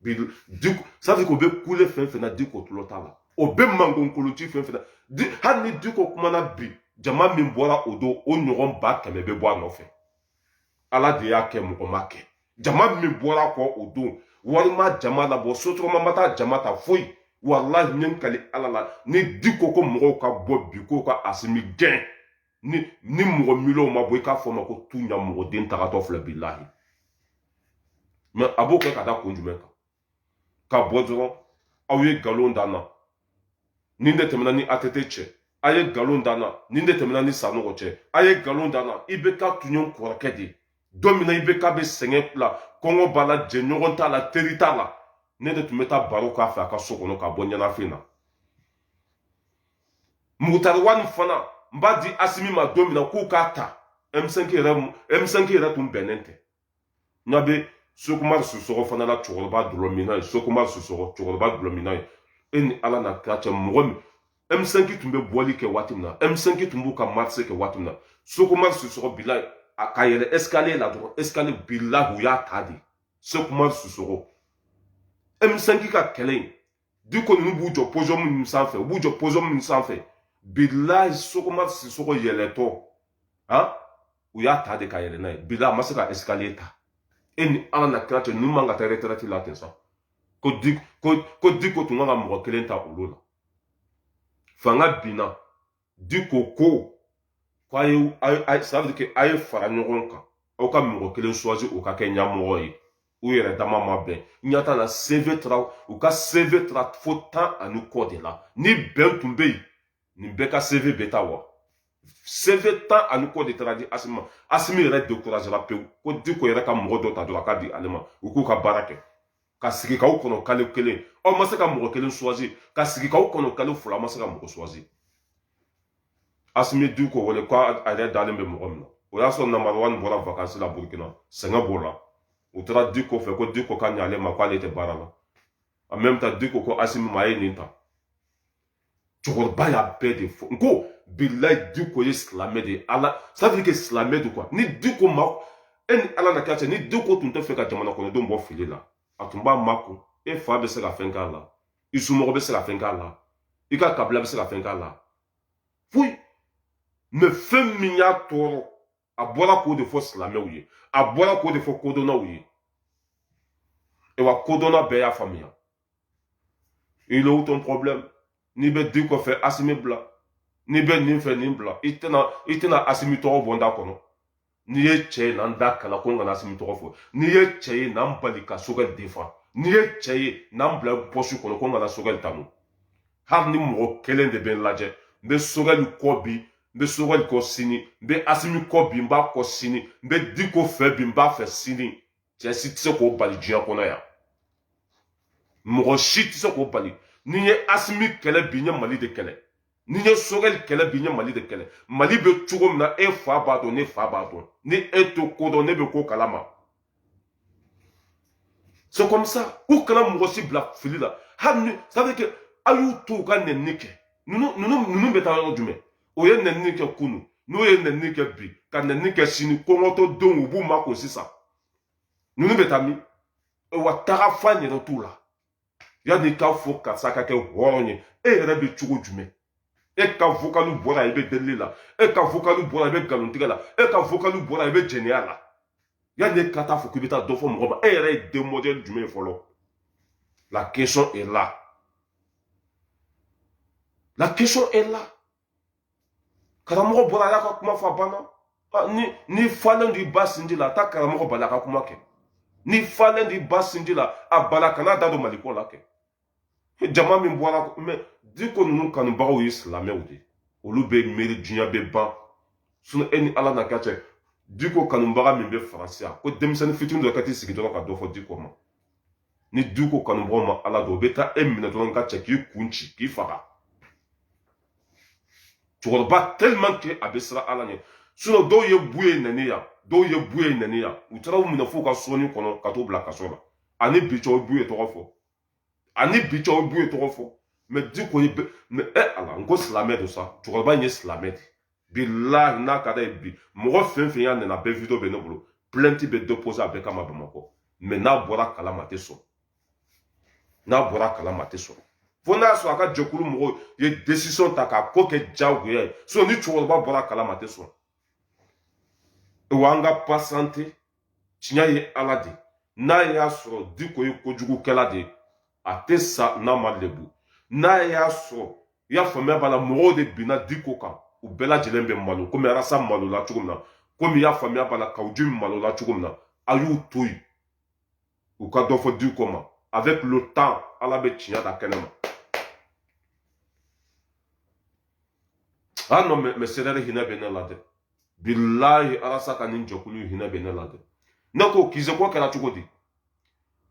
bi di safi ko bɛ kule fɛn fɛn na diko tulo t'a la o bɛ mankan kolon ci fɛn fɛn na di hali ni diko kumana bi jama min bɔra o don o ɲɔgɔn ba kɛmɛ bɛ bɔ a nɔfɛ ala de y'a kɛ mɔgɔ ma kɛ jama min bɔra kɔ o don walima jama labɔ sotrama ma taa jama ta foyi walahi n ye n kali ala la ni diko ko mɔgɔw ka bɔ bi k'u ka asimi gɛn ni ni mɔgɔ miliyɔn ma bɔ i k'a fɔ n ma ko tu ɲamɔgɔden tagatɔ filɛ bilahi mɛ a b'o kɛ ka da kun jumɛn kan ka bɔ dɔrɔn aw ye nkalon da n na nin de tɛmɛna n ni ATT cɛ a ye nkalon da n na nin de tɛmɛna n ni sanɔgɔ cɛ a ye nkalon da n na IBK tun ye n kɔrɔkɛ de ye don min na IBK bɛ sɛgɛn la kɔngɔ b'a la jɛɲɔgɔn t'a la teri t'a la ne de tun bɛ taa baro k'a fɛ a ka so kɔnɔ k'a bɔ ɲɛnafin na mugutari wani fana n b'a di asimi ma don min na k'u k'a ta m5 yɛrɛ m5 yɛrɛ tun bɛnnen tɛ n ɲɛ bɛ sɛki umaru sisɔkɔ fana la cɛkɔrɔba dulɔ min na ye sɛki umaru sisɔkɔ cɛkɔrɔba dulɔ min na ye e ni ala n'a kira cɛ mɔgɔ min M5 tun bɛ bɔli kɛ waati min na M5 tun b'u ka marse kɛ waati min na sɛki umaru sisɔkɔ bila a ka yɛlɛ escalier la dɔrɔn escalier bilayi u y'a ta de sɛki umaru sisɔkɔ M5 ka kɛlɛ in diko ninnu b'u jɔ pɔsɔn minnu sanfɛ u b'u jɔ pɔsɔn minnu sanfɛ bilayi sɛki umaru sisɔkɔ yɛlɛtɔ han u y'a ta de ka yɛlɛ n'a ye bilayi a ma se ka escalier ta e ni ala n'a kira cɛ ninnu man ka taa retraite la ten sa ko diko ko diko tun kan ka mɔgɔ kelen ta olu la fanga binna diko ko k'a ye sabali kɛ a ye fara ɲɔgɔn kan aw ka mɔgɔ kelen suwazi o ka kɛ ɲɛmɔgɔ ye u yɛrɛ dama ma bɛn ɲata la seve taara u ka seve taara fo tan ani kɔ de la ni bɛn tun bɛ yen nin bɛɛ ka seve bɛ taa wa seve tan ani kɔ de taara di asimi ma asimi yɛrɛ dekurazera pewu ko diko yɛrɛ ka mɔgɔ dɔ ta dɔrɔn a k'a di ale ma u k'u ka baara kɛ ka sigi k'aw kɔnɔ kalo kelen aw ma se ka mɔgɔ kelen suwazi ka sigi k'aw kɔnɔ kalo fila aw ma se ka mɔgɔ suwazi asimi diko wele ko a yɛrɛ dalen bɛ mɔgɔ min na o y'a sɔrɔ mugutari wani bɔra vakansi la burukina sɛgɛn b'o la u taara diko fɛ ko diko ka ɲɛ ale ma k'ale tɛ baara la a mɛn taa diko ko asimi ma a ye nin ta cɛkɔrɔba y'a bɛɛ de fɔ n ko bilayi diko ye silamɛ de ye ala c'est-à-dire que silamɛ de kuwa ni diko ma e ni ala na kɛ cɛ ni diko tun t'a fɛ ka jamana kɔnɔdenw bɔ fili la a tun b'a makun e fa bɛ se ka fɛn k'a la i somɔgɔ bɛ se ka fɛn k'a la i ka kabila bɛ se ka fɛn k'a la foyi mais fɛn min y'a tɔɔrɔ a bɔra k'o de fɔ silamɛw ye a bɔra k'o de fɔ kodɔnnaw ye ewa kodɔnna bɛɛ y'a faamuya il est où ton problème n'i bɛ diko fɛ asimi bila n'i bɛ nin fɛ nin bila i tɛna i tɛna asimi tɔgɔ bɔ n da kɔnɔ n'i ye cɛ ye na n da kala ko n kana asimi tɔgɔ fɔ n'i ye cɛ ye na n bali ka sogɛli défendre n'i ye cɛ ye na n bila pɔsi kɔnɔ ko n kana sogɛli tanu hali ni mɔgɔ kelen de bɛ n lajɛ n bɛ sogɛli kɔ bi n bɛ sogɛli kɔ sini n bɛ asimi kɔ bi n b'a kɔ sini n bɛ diko fɛ bi n b'a fɛ sini cɛ si tɛ se k'o bali diɲɛ kɔnɔ yan mɔgɔ si tɛ se k'o bali ni n ye asimi kɛlɛ bi n ye mali de kɛlɛ ni n ye sogɛli kɛlɛ bi n ye mali de kɛlɛ mali bɛ cogo min na e fa b'a dɔn ne fa b'a dɔn ni e t'o ko dɔn ne bɛ ko kalama c'est comme ça u kana mɔgɔ si bila fili la hali ni sabu kɛ a y'u to u ka nɛni kɛ ninnu ninnu ninnu bɛ taa yɔrɔ jumɛn o ye nɛni kɛ kunun o ye nɛni kɛ bi ka nɛni kɛ sini kɔngɔtɔ denw u b'u makun sisan ninnu bɛ taa min wa taga fan yɛrɛ t'u la yanni i k'a fɔ karisa ka kɛ hɔrɔn ye e yɛrɛ bɛ cogo jumɛn e ka vokali bɔra i bɛ delili la e ka vokali bɔra i bɛ nkalontigɛ la e ka vokali bɔra i bɛ jɛnɛya la yanni e ka taa fɔ k'i bɛ taa dɔ fɔ mɔgɔ ma e yɛrɛ ye den mɔdɛli jumɛn ye fɔlɔ la question est là la question est là karamɔgɔ bɔra a y'a ka kuma fɔ a banna ah, ni i falen don i ba sinji la taa karamɔgɔ bali a ka kuma kɛ n'i falen don i ba sinji la a bali a kana da don maliko la kɛ jama min bɔra mais diko ninnu kanubagaw ye silamɛw de olu bɛ miiri diɲɛ bɛ ban sinon e ni ala na ka cɛ diko kanubaga min bɛ faransi yan ko denmisɛnnin fitini dɔ ka t'i sigi dɔrɔn ka dɔ fɔ diko ma ni diko kanubaga ma ala dɔn o bɛ taa e minɛ dɔrɔn ka cɛ k'i kun ci k'i faga cɛkɔrɔba tellement que a bɛ siran ala ɲɛ sinon dɔw ye buye nɛni yan dɔw ye buye nɛni yan u taara u minɛ f'u ka sonin kɔnɔ ka t'u bila kaso la ani bi cɛw buye tɔgɔ fɔ ani bi cɛw buye tɔgɔ fɔ mais diko ye mɛ ɛ ala n ko silamɛ don sa cɛkɔrɔba in ye silamɛ de bilahi n'a ka d'a ye bi mɔgɔ fɛn fɛn y'a nɛni a bɛɛ video bɛ ne bolo plainte bɛ déposer a bɛɛ kama bamakɔ mais n'a bɔra kalama a tɛ sɔn n'a bɔra kalama a tɛ sɔn fo n'a sɔrɔ a ka jɛkulu mɔgɔw ye décision ta k'a ko kɛ diyagoya ye sinon ni cɛkɔrɔba bɔra kalama a tɛ sɔn wa an ka patienter tiɲɛ ye ala de n'a y'a sɔrɔ diko ye kojugukɛla de a tɛ sa n'a ma lebu n'a y'a sɔrɔ i y'a faamuya b'a la mɔgɔw de binna diko kan u bɛɛ lajɛlen bɛ malo komi arasa malola cogo min na komi i y'a faamuya b'a la kawu jimi malola cogo min na a y'u to yen u ka dɔ fɔ diko ma avec le temps ala bɛ tiɲɛ da kɛnɛ ma ah non mais, mais c'est là le hinɛ bɛ ne la dɛ bilahi arasa ka nin jɛkulu hinɛ bɛ ne la dɛ ne ko kize ko kɛra cogo di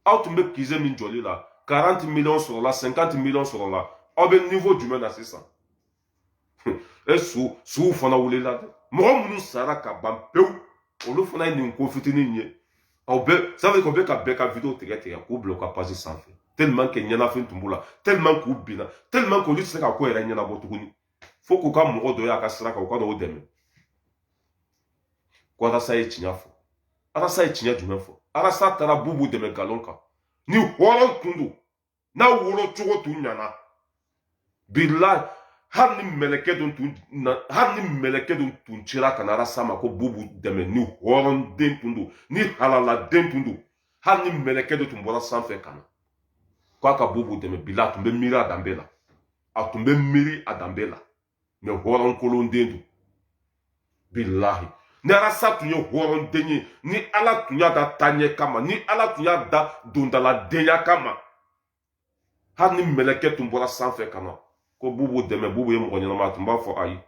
aw tun bɛ kize min jɔli la 40 miliyɔn sɔrɔla 50 miliyɔn sɔrɔla aw bɛ nivo jumɛn na sisan e su suw fana wulila dɛ mɔgɔ minnu sara ka ban pewu olu fana ye nin ko fitinin ye aw bɛ sanfɛ k'aw bɛ ka bɛɛ ka video tigɛ tigɛ k'u bila u ka pazi sanfɛ tellement que ɲɛnafin tun b'u la tellement k'u binna tellement k'olu tɛ se ka ko yɛrɛ ɲɛnabɔ tuguni fo k'u ka mɔgɔ dɔ y'a ka sira kan u ka n'o dɛmɛ ko arasa ye tiɲɛ fɔ arasa ye tiɲɛ jumɛn fɔ arasa taara bubu dɛmɛ nkalon kan ni hɔrɔn tun don n'a wolo cogo tun ɲana bilahi hali ni mɛlɛkɛ dɔ tun na hali ni mɛlɛkɛ dɔ tun cira ka na arasa ma ko bubu dɛmɛ ni hɔrɔn den tun don ni halala den tun don hali ni mɛlɛkɛ dɔ tun bɔra sanfɛ ka na k'a ka bubu dɛmɛ bilahi a tun bɛ miiri a danbe la a tun bɛ miiri a danbe la mɛ hɔrɔn kolon den don bilahi ni arasa tun ye hɔrɔn den ye ni ala tun y'a da taɲɛ kama ni ala tun y'a da dondala denya kama hali ni mɛlɛkɛ tun bɔra sanfɛ ka na ko bubu dɛmɛ bubu ye mɔgɔ ɲɛnama a tun b'a fɔ ayi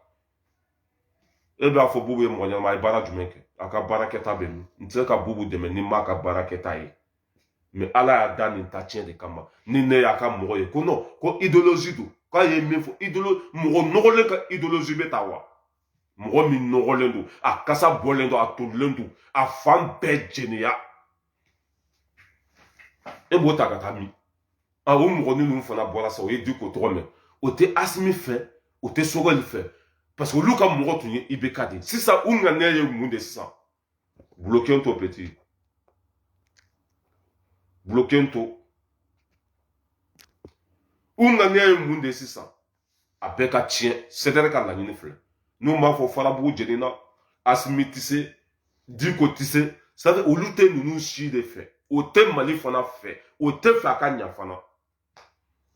e b'a fɔ bubu ye mɔgɔ ɲɛnama a ye baara jumɛn kɛ a ka baarakɛta bɛ min n tɛ se ka bubu dɛmɛ ni n m'a ka baarakɛta ye mɛ ala y'a da nin ta tiɲɛ de kama ni ne y'a ka mɔgɔ ye ko nɔn ko ideolozi don k'a ye min fɔ idolo mɔgɔ nɔgɔlen ka ideolozi bɛ ta wa mɔgɔ min nɔgɔlen don a kasa bɔlen don a tolilen don a fan bɛɛ jeniya e b'o ta ka taa min a o mɔgɔ ni ninnu fana bɔra sa o ye diko tɔgɔ mɛn o tɛ asimi fɛ o tɛ sogɛli fɛ parce que olu ka mɔgɔ tun ye ibk de sisan u ŋaniya ye mun de sisan Bloquons-toi, petit. Bloquons-toi. u ŋaniya ye mun de sisan a bɛɛ ka tiɲɛ cdr ka laɲini filɛ n'u m'a fɔ farabugu jenina asimi tɛ se diko tɛ se ça veut dire olu tɛ ninnu si de fɛ o tɛ mali fana fɛ o t'a fɛ a ka ɲa fana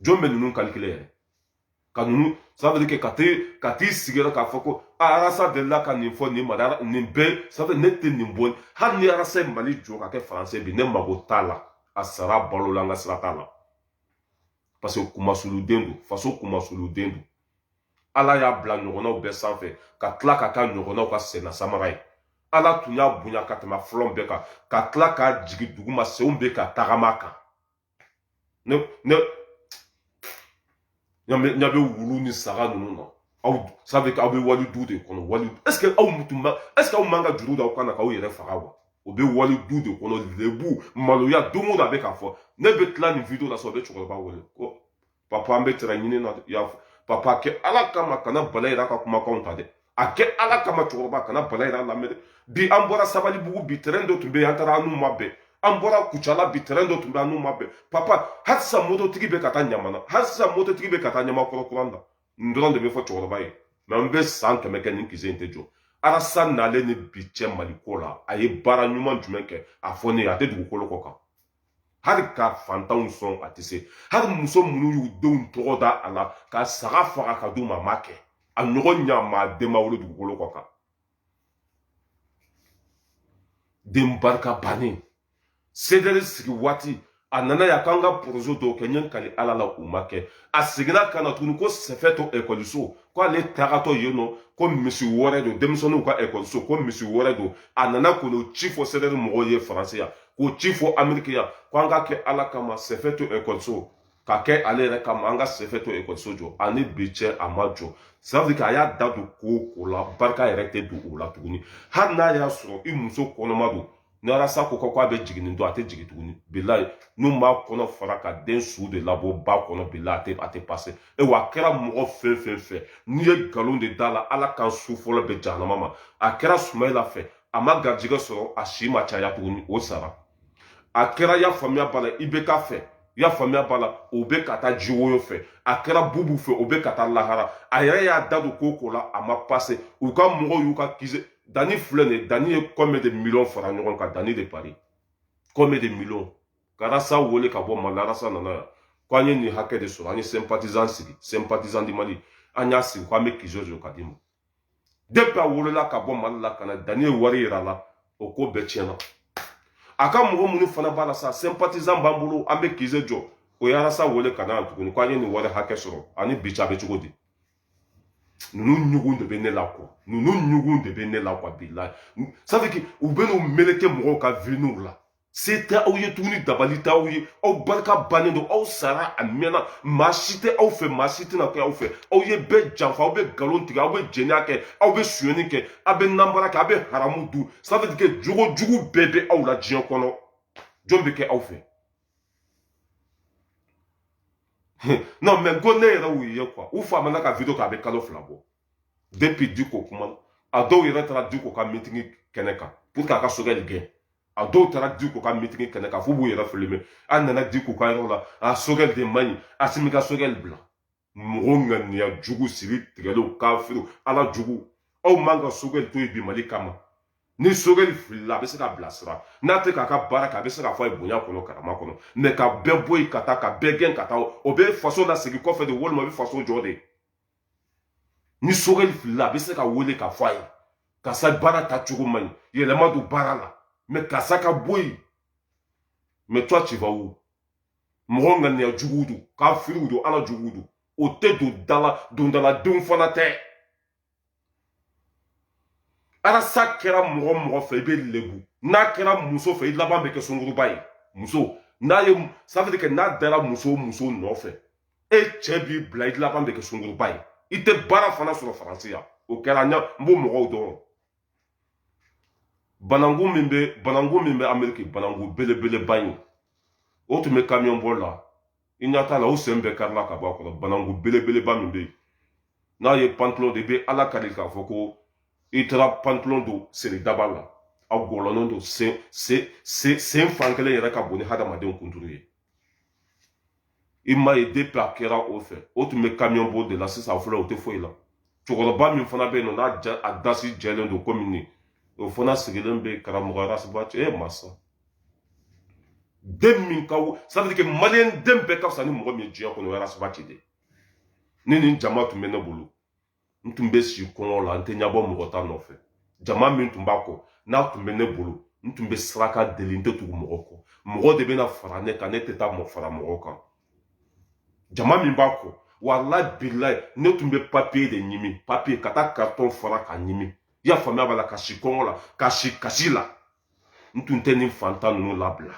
jɔn bɛ ninnu kalikile yɛrɛ ka ninnu sabu kɛ ka tɛ ka t'i sigi k'a fɔ ko arasa delila ka nin fɔ nin mara nin bɛɛ sabu ne tɛ nin bɔ hali ni arasa mali jɔ ka kɛ faransi ye bi ne mago t'a la a sara a balola an ka sira t'a la parce que kumasuluden don faso kumasuluden don ala y'a bila a ɲɔgɔnnaw bɛɛ sanfɛ ka tila k'a kɛ a ɲɔgɔnnaw ka senna samara ye ala tun y'a bonya ka tɛmɛ fɔlɔ bɛɛ kan ka tila k'a jigin duguma senw bɛ ka tagama a kan Ne, ne, n'a bɛ wulu ni saga ninnu na aw ça veut dire aw bɛ wali du de kɔnɔ wali est ce que aw tun b'a est ce que aw man kan ka juru da aw kan na k'aw yɛrɛ faga wa o bɛ wali du de kɔnɔ lebu maloya don o don a bɛ k'a fɔ ne bɛ tila nin video la sisan o bɛ cɛkɔrɔba wele ko papa an bɛ tɛrɛn ɲini na y'a fɔ papa a kɛ ala kama kana bala yira ka kumakanw ta dɛ a kɛ ala kama cɛkɔrɔba kana bala yira lamɛn dɛ bi an bɔra sabalibugu bi tɛrɛn dɔ tun bɛ yen an taara an n'u ma bɛn an bɔra kucala bi tɛrɛn dɔ tun bɛ an n'u ma bɛn papa hali sisan mototigi bɛ ka taa ɲamana hali sisan mototigi bɛ ka taa ɲamakɔrɔ kurani nin dɔrɔn de bɛ fɔ cɛkɔrɔba ye mais an bɛ san kɛmɛ kɛ nin kize in tɛ jɔ arasa nalen ni bi cɛ maliko la a ye baara ɲuman jumɛn kɛ a fɔ ne ye a tɛ dugukolo kɔ kan hali ka fantanw sɔn a tɛ se hali muso minnu y'u denw tɔgɔ da a la ka saga faga ka d'u ma a ma kɛ a ɲɔgɔn ɲamaaden ma wolo dugukolo kɔ kan den barika bannen sedɛri sigi waati a nana yan k'an ka porozɛ dɔw kɛ n ye n kali ala la u ma kɛ a seginna ka na tuguni ko sɛfɛto ekɔliso ko ale tagatɔ yen nɔ ko misi wɛrɛ don denmisɛnninw ka ekɔliso ko misi wɛrɛ don a nana k'o ci fɔ sedɛri mɔgɔw ye faransi yan k'o ci fɔ ameriki yan ko an k'a kɛ ala kama sɛfɛto ekɔliso k'a kɛ ale yɛrɛ kama an ka sɛfɛto ekɔliso jɔ ani bi cɛ a ma jɔ sabu a y'a da don ko o ko la barika yɛrɛ tɛ don o la tuguni hali n'a y'a sɔrɔ i muso kɔnɔma don ni arasa ko k'a bɛ jigin don a tɛ jigin tuguni bilayi n'u b'a kɔnɔ fara ka den su de labɔ ba kɔnɔ bilayi a tɛ a tɛ pase e wa a kɛra mɔgɔ fɛn fɛn fɛ n'i ye nkalon de da la ala kan su fɔlɔ bɛ jahanama ma a kɛra sumayila fɛ a ma garijɛgɛ sɔrɔ a si ma caya tuguni o sara a kɛra y'a faamuya b'a la ibeka fɛ y'a faamuya b'a la o bɛ ka taa jiwoyo fɛ a kɛra bubu fɛ o bɛ ka taa lahara a yɛrɛ y'a da don ko o ko la a ma pase u ka mɔgɔw y'u ka kize danni filɛ nin ye danni ye combien de miliyɔn fara ɲɔgɔn kan danni de paris combien de miliyɔn ka arasa wele ka bɔ mali arasa nana yan ko an ye nin hakɛ de sɔrɔ an ye sympathisant sigi sympathisant du mali an y'a sigi ko an bɛ kize jɔ ka d'i ma depuis a wulila ka bɔ mali la ka na danni ye wari yira a la o ko bɛɛ tiɲɛna a ka mɔgɔ minnu fana b'a la sa sympathisant b'an bolo an bɛ kize jɔ o ye arasa wele ka na tuguni ko an ye nin wari hakɛ sɔrɔ ani bi cɛ a bɛ cogo di ninnu ɲugun de bɛ ne la quoi ninnu ɲugun de bɛ ne la quoi bilayi sadiki u bɛ n'u meleke mɔgɔw ka video la se tɛ aw ye tuguni dabali tɛ aw ye aw barika bannen don aw sara a mɛnna maa si tɛ aw fɛ maa si tɛna kɛ aw fɛ aw ye bɛɛ janfa aw bɛ nkalon tigɛ aw bɛ jɛnɛya kɛ aw bɛ sonyɛni kɛ aw bɛ nanbara kɛ aw bɛ haramu dun c'est-à-dire que jogo jugu bɛɛ bɛ aw la diɲɛ kɔnɔ jɔn bɛ kɛ aw fɛ non mais ko ne yɛrɛ y'u ye quoi u famana ka video kɛ a bɛ kalo fila bɔ depi diko kuma a dɔw yɛrɛ taara diko ka mitigi kɛnɛ kan pour que a ka sogɛli gɛn a dɔw taara diko ka mitigi kɛnɛ kan f'u b'u yɛrɛ fili mɛ an nana diko ka yɔrɔ la a sogɛli de man ɲi asimi ka sogɛli bila mɔgɔ ŋaniya jugu siri tigɛlenw kafiriw ala jugu aw man ka sogɛli to yen bi mali kama ni sogɛli filila a bɛ se k'a bilasira n'a tɛ k'a ka baara kɛ a bɛ se k'a fɔ a ye bonya kɔnɔ karama kɔnɔ mɛ ka bɛɛ bɔ yen ka taa ka bɛɛ gɛn ka taa o bɛ faso lasegin kɔfɛ de walima a bɛ faso jɔ de ni sogɛli filila a bɛ se k'a wele k'a fɔ a ye karisa baara ta cogo man ɲi yɛlɛma don baara la mɛ karisa ka bɔ yen mɛ toi tu vas où mɔgɔ ŋaniya juguw don kafiriw don ala juguw don o tɛ don dala dondaladenw fana tɛ arasi a kɛra mɔgɔ mɔgɔ fɛ i bɛ lebu n'a kɛra muso fɛ i laban bɛ kɛ sunkuruba ye muso n'a ye c'est-à-dire que n'a dara muso muso nɔfɛ e cɛ b'i bila i laban bɛ kɛ sunkuruba ye i tɛ baara fana sɔrɔ faransi yan o kɛra n b'o mɔgɔw dɔn bananku min bɛ bananku min bɛ ameriki bananku belebeleba in o tun bɛ kamiyɔn boli la i ɲa t'a la o sen bɛɛ karila ka bɔ a kɔrɔ bananku belebeleba min bɛ yen n'a ye pantalon don i bɛ ala kari k'a fɔ ko i taara pantalon don seri daba la a gɔlɔnnen don sen sen sen sen fan kelen yɛrɛ ka bon ni hadamadenw kunturu ye i m'a ye depi a kɛra o fɛ o tun bɛ kamiyɔn boli de la sisan fɔlɔ o tɛ foyi la cɛkɔrɔba min fana bɛ yen nɔ n'a ja a dasi jɛlen don komi nin o fana sigilen bɛ karamɔgɔ arasibaci ye masa den min ka c'est-à-dire que maliyɛn den bɛɛ ka fisa ni mɔgɔ min ye diɲɛ kɔnɔ o arasibaci de ni nin jama tun bɛ ne bolo n tun bɛ si kɔngɔ la n tɛ ɲɛbɔ mɔgɔ ta nɔfɛ jama min tun b'a kɔ n'a tun bɛ ne bolo n tun bɛ saraka deli n tɛ tugu mɔgɔ kɔ mɔgɔ de bɛna fara ne kan ne tɛ taa mɔgɔ fara mɔgɔ kan jama min b'a kɔ walayi bilayi ne tun bɛ papiye de ɲimi papiye ka taa karitɔn fara k'a ɲimi i y'a faamuya b'a la ka si kɔngɔ la ka si kasi la n tun tɛ nin fantan ninnu labila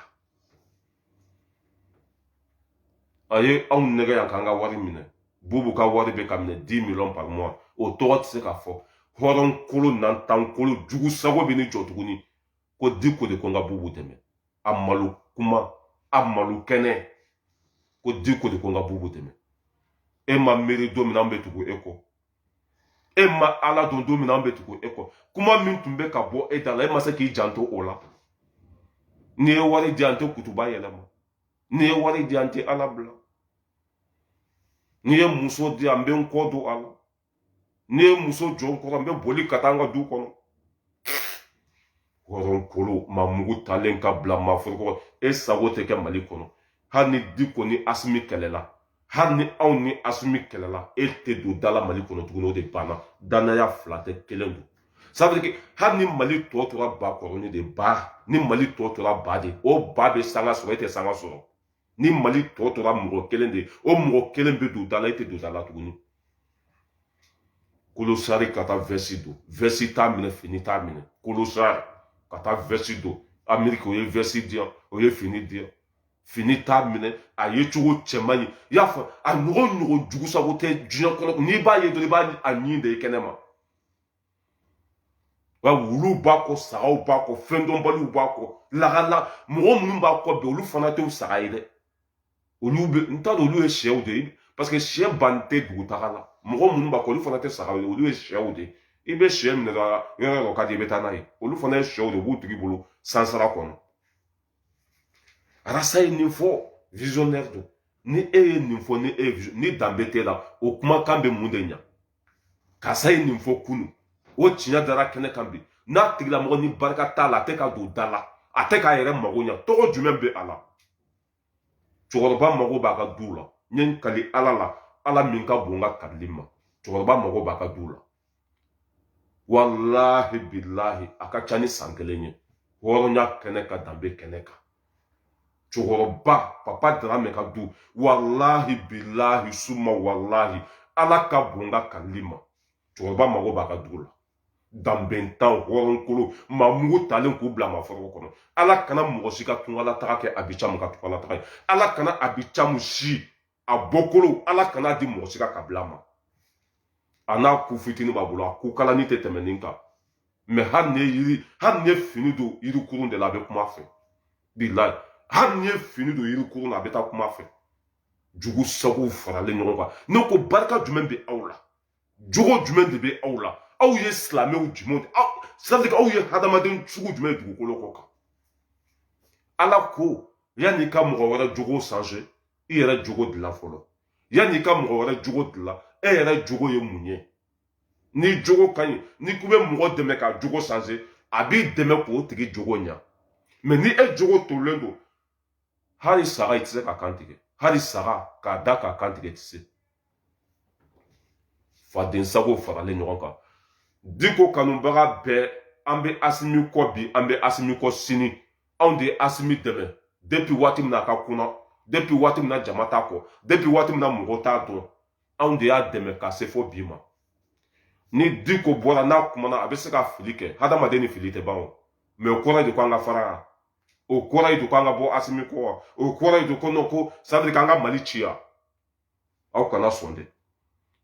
a ye anw nɛgɛn yan k'an ka wari minɛ bubu ka wari bɛ ka minɛ dix million par mois o tɔgɔ tɛ se ka fɔ hɔrɔn kolon nantan kolon jugusago bɛ ni jɔ tuguni ko diko de ko n ka bubu dɛmɛ a malo kuma a malo kɛnɛ ko diko de ko n ka bubu dɛmɛ e ma miiri don min na an bɛ tugu e kɔ e ma ala don don min na an bɛ tugu e kɔ kuma min tun bɛ ka bɔ e da la e ma se k'i janto o la n'i ye wari di an tɛ kutuba yɛlɛma n'i ye wari di an tɛ ala bila n'i ye muso di an bɛ n kɔ don a la n'i ye muso jɔ n kɔrɔ n bɛ boli ka taa an ka du kɔnɔ hɔrɔnkolo maa mugu talen ka bila maa foroko e sago tɛ kɛ mali kɔnɔ hali ni diko ni asimi kɛlɛla hali ni anw ni asimi kɛlɛla e tɛ don da la mali kɔnɔ tuguni o de banna danaya fila tɛ kelen don sabulike hali ni mali tɔ tora bakɔrɔnin de ba ni mali tɔ tora ba de o ba bɛ sanga sɔrɔ e tɛ sanga sɔrɔ ni mali tɔ tora mɔgɔ kelen de o mɔgɔ kelen bɛ don da la e tɛ don da la tuguni kolosari ka taa vɛsi don vɛsi t'a minɛ fini t'a minɛ kolosari ka taa vɛsi don ameriki o ye vɛsi di yan o ye fini di yan fini t'a minɛ a ye cogo cɛman ye i y'a fɔ a ɲɔgɔn ɲɔgɔn jugusago tɛ diɲɛ kɔnɔ n'i b'a ye dɔrɔn i b'a a ɲin de ye kɛnɛ ma wa wuluw b'a kɔ sagaw b'a kɔ fɛndɔnbaliw b'a kɔ lagala mɔgɔ minnu b'a kɔ bi olu fana tɛ saga ye dɛ olu bɛ n t'a dɔn olu ye sɛw de ye paseke sɛ ban tɛ dugutaga la mɔgɔ minnu b'a kɔ olu fana tɛ saga ye olu ye sɛw de ye i bɛ sɛ minɛ dɔrɔn yɔrɔ yɔrɔ ka di i bɛ taa n'a ye olu fana ye sɛw de ye u b'u tigi bolo sansara kɔnɔ arasa ye nin fɔ visionnaire don ni e ye nin fɔ ni e ye ni danbe t'e la o kumakan bɛ mun de ɲa karisa ye nin fɔ kunu o tiɲɛ dara kɛnɛ kan bi n'a tigilamɔgɔ ni barika t'a la a tɛ ka don da la a tɛ k'a yɛrɛ mago ɲa tɔgɔ jumɛn bɛ a la cɛkɔrɔba mago b'a ka duw la n ye n kali ala la ala min ka bon n ka kalili ma cɛkɔrɔba mago b'a ka duw la walahi bilahi a ka ca ni san kelen ye hɔrɔnya kɛnɛ kan danbe kɛnɛ kan cɛkɔrɔba papa daramɛ ka du walahi bilahi suma walahi ala ka bon n ka kalili ma cɛkɔrɔba mago b'a ka dugu la danbentan hɔrɔnkolo maa mugu talen k'u bila maa foroko kɔnɔ ala kana mɔgɔ si ka tungalataga kɛ abicamu ka tungalataga ye ala kana abicamu si a bɔkolo ala kan'a di mɔgɔ si ka kabila ma a n'a ku fitini b'a bolo a ku kalani tɛ tɛmɛ nin kan mɛ hali n'i ye yiri hali n'i ye fini don yirikurun de la a bɛ kuma fɛ bilayi hali n'i ye fini don yirikurun na a bɛ taa kuma fɛ jugu sagow faralen ɲɔgɔn kan ne ko barika jumɛn bɛ aw la jogo jumɛn de bɛ aw la aw ye silamɛw jumɛn de aw sadi aw ye hadamaden sugu jumɛn ye dugukolo kɔ kan ala ko yanni i ka mɔgɔ wɛrɛ jogo sanze i yɛrɛ jogo dilan fɔlɔ yanni i ka mɔgɔ wɛrɛ jogo dilan e yɛrɛ jogo ye mun ye n'i jogo ka ɲi n'i k'i bɛ mɔgɔ dɛmɛ ka jogo sanze a b'i dɛmɛ k'o tigi jogo ɲa mɛ ni e jogo tolilen don hali saga i tɛ se k'a kan tigɛ hali saga k'a da k'a kan tigɛ tɛ se faden sago faralen ɲɔgɔn kan diko kanubaga bɛɛ an bɛ asimi kɔ bi an bɛ asimi kɔ sini anw de ye asimi dɛmɛ depi waati min na a ka kunna depi waati min na jama t'a kɔ depi waati min na mɔgɔ t'a dɔn anw de y'a dɛmɛ ka se fɔ bi ma ni diko bɔra n'a kumana a bɛ se ka fili kɛ hadamaden ni fili tɛ ban o mɛ o kɔrɔ de ko an ka fara o kɔrɔ ye de ko an ka bɔ asimi kɔ o kɔrɔ ye de ko ko c'est-à-dire k'an ka mali tiɲɛ aw kana sɔn dɛ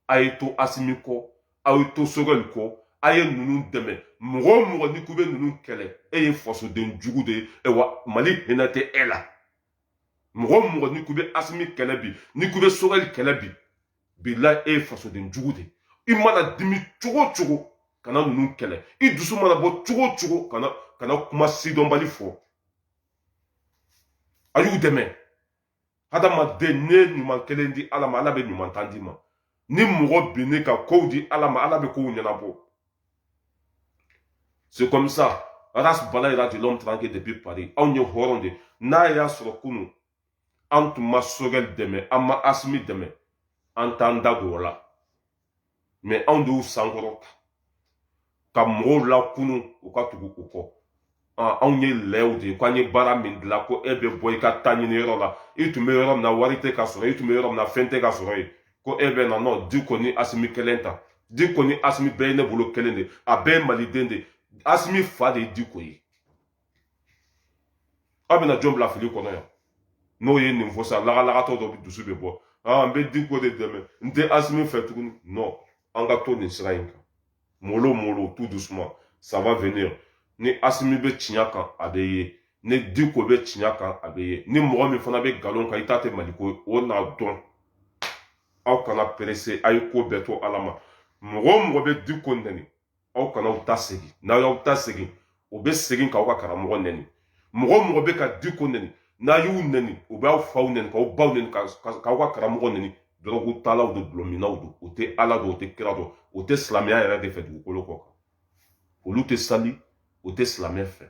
a ye to asimi kɔ aw ye to sogɛli kɔ a ye ninnu dɛmɛ mɔgɔ o mɔgɔ n'i k'i bɛ ninnu kɛlɛ e ye fasoden jugu de ye wa mali hinɛ tɛ e la mɔgɔ o mɔgɔ n'i k'i bɛ asimi kɛlɛ bi n'i k'i bɛ sogɛli kɛlɛ bi bilahi e ye fasoden jugu de i mana dimi cogo o cogo kana ninnu kɛlɛ i dusu mana bɔ cogo o cogo kana kana kuma sidɔnbali fɔ a y'u dɛmɛ hadamaden n'e ye ɲuman kelen di ala ma ala bɛ ɲuman tan d'i ma ni mɔgɔ min y'i ka kow di ala ma ala bɛ kow ɲɛnabɔ c'est comme ça ras bala yɛrɛ de l'homme tranquille depuis paris anw ye hɔrɔn de n'a y'a sɔrɔ kunu an tun ma sogɛli dɛmɛ an ma asimi dɛmɛ an t'an da don o la mɛ anw de y'u sankɔrɔta ka mɔgɔw lakunun u ka tugu u kɔ anw ye lɛw de ye k'an ye baara min dilan ko e bɛ bɔ i ka taa ɲini yɔrɔ la i tun bɛ yɔrɔ min na wari tɛ ka sɔrɔ i tun bɛ yɔrɔ min na fɛn tɛ ka sɔrɔ yen ko e bɛ na non diko ni asimi kelen ta diko ni asimi bɛɛ ye ne bolo kelen de a bɛɛ ye maliden de asimi fa de ye diko ye aw bɛna jɔn bila fili kɔnɔ yan n'o ye nin fɔ sa lagalagatɔ dɔ dusu bɛ bɔ aa n bɛ diko de dɛmɛ n tɛ asimi fɛ tuguni non an ka to nin sira in kan mollo mollo tout doucement ça va venir ni asimi bɛ tiɲɛ kan a bɛ ye ni diko bɛ tiɲɛ kan a bɛ ye ni mɔgɔ min fana bɛ nkalon kan i ta tɛ maliko ye o na dɔn aw kana perese a ye ko bɛɛ to ala ma mɔgɔ o mɔgɔ bɛ diko nɛni aw kana aw ta segin n'aw y'aw ta segin u bɛ segin k'aw ka karamɔgɔ nɛni mɔgɔ o mɔgɔ bɛ ka diko nɛni n'a y'u nɛni u b'aw faw nɛni k'aw baw nɛni k'aw ka karamɔgɔ nɛni dɔrɔgutalaw don dɔlɔminnaw don u tɛ ala dɔn u tɛ kira dɔn u tɛ silamɛya yɛrɛ de fɛ dugukolo kɔ kan olu tɛ sali u tɛ silamɛ fɛ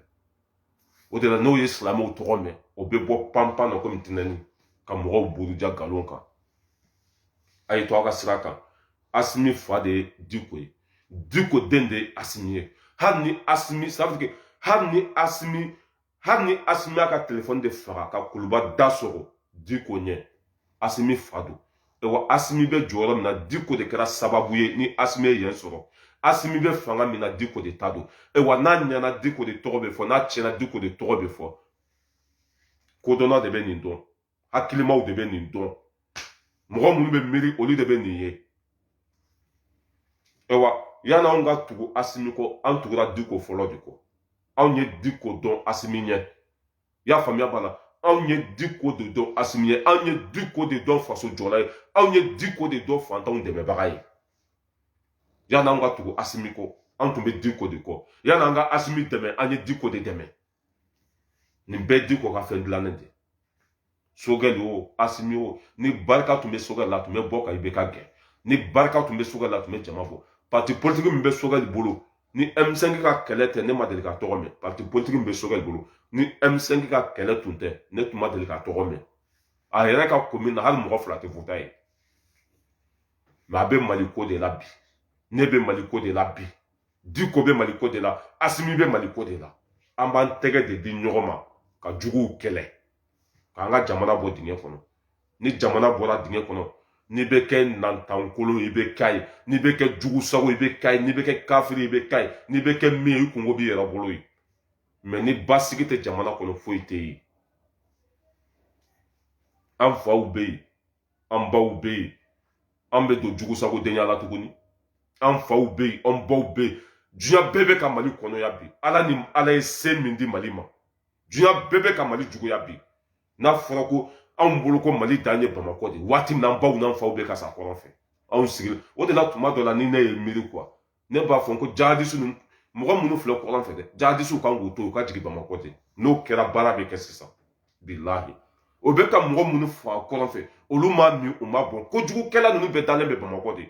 o de la n'o ye silamɛw tɔgɔ mɛn o bɛ bɔ panpan na komi tinɛni ka mɔgɔw buruja nkalon kan a ye to a ka sira kan asimi fa de ye diko ye diko den de ye asimi ye hali ni asimi safike hali ni asimi hali ni asimi y'a ka telefɔni de faga ka kuluba da sɔgɔ diko ɲɛ asimi fa don wa asimi bɛ jɔyɔrɔ min na diko de kɛra sababu ye ni asimi ye yen sɔrɔ asimi bɛ fanga min na diko de ta don wa n'a ɲɛna diko de tɔgɔ bɛ fɔ n'a tiɲɛna diko de tɔgɔ bɛ fɔ kodɔnna de bɛ nin dɔn hakilimaw de bɛ nin dɔn mɔgɔ minnu bɛ miiri olu de bɛ nin ye ayiwa yanni anw ka tugu asimi kɔ an tugura diko fɔlɔ de kɔ anw ye diko dɔn asimi ɲɛ i y'a faamuya bala anw ye diko de dɔn asimi ɲɛ anw ye diko de dɔn faso jɔla ye anw ye diko de dɔn fantanw dɛmɛbaga ye yanni anw ka tugu asimi kɔ an tun bɛ diko de kɔ yanni an ka asimi dɛmɛ an ye diko de dɛmɛ nin bɛɛ diko ka fɛn dilannen de sogɛli o asimi o ni barika tun bɛ sogɛli la a tun bɛ bɔ ka ibk gɛn ni barika tun bɛ sogɛli la a tun bɛ jama fɔ pati politiki min bɛ sogɛli bolo ni m5 ka kɛlɛ tɛ ne ma deli k'a tɔgɔ mɛn pati politiki min bɛ sogɛli bolo ni m5 ka kɛlɛ tun tɛ ne tun ma deli k'a tɔgɔ mɛn a yɛrɛ ka komin na hali mɔgɔ fila tɛ wote a ye mɛ a bɛ mali ko de la bi ne bɛ mali ko de la bi diko bɛ mali ko de la asimi bɛ mali ko de la an b'an tɛgɛ de di ɲɔgɔn ma ka juguw kɛlɛ k'an ka jamana bɔ dingɛ kɔnɔ ni jamana bɔra dingɛ kɔnɔ n'i bɛ kɛ nantankolon i bɛ k'a ye n'i bɛ kɛ jugu sago i bɛ k'a ye n'i bɛ kɛ kafiri i bɛ k'a ye n'i bɛ kɛ min ye i kunko b'i yɛrɛ bolo ye mɛ ni basigi tɛ jamana kɔnɔ foyi tɛ yen an faw bɛ yen an baw bɛ yen an bɛ don jugu sago denya la tuguni an faw bɛ yen an baw bɛ yen diɲɛ bɛɛ bɛ ka mali kɔniya bi ala ni ala ye se min di mali ma diɲɛ bɛɛ bɛ ka mali juguya bi n'a fɔra ko anw bolo ko mali dan ye bamakɔ de waati min an baw n'an faw bɛ ka sa kɔrɔn fɛ anw sigilen o de la tuma dɔ la ni ne ye miiri quoi ne b'a fɔ ko jihadisi ninnu mɔgɔ minnu filɛ kɔrɔn fɛ dɛ jihadisiw kan k'u to u ka jigin bamakɔ ten n'o kɛra baara bɛ kɛ sisan bilahi o bɛ ka mɔgɔ minnu faga kɔrɔn fɛ olu m'a min u m'a bɔn kojugukɛla ninnu bɛɛ dalen bɛ bamakɔ de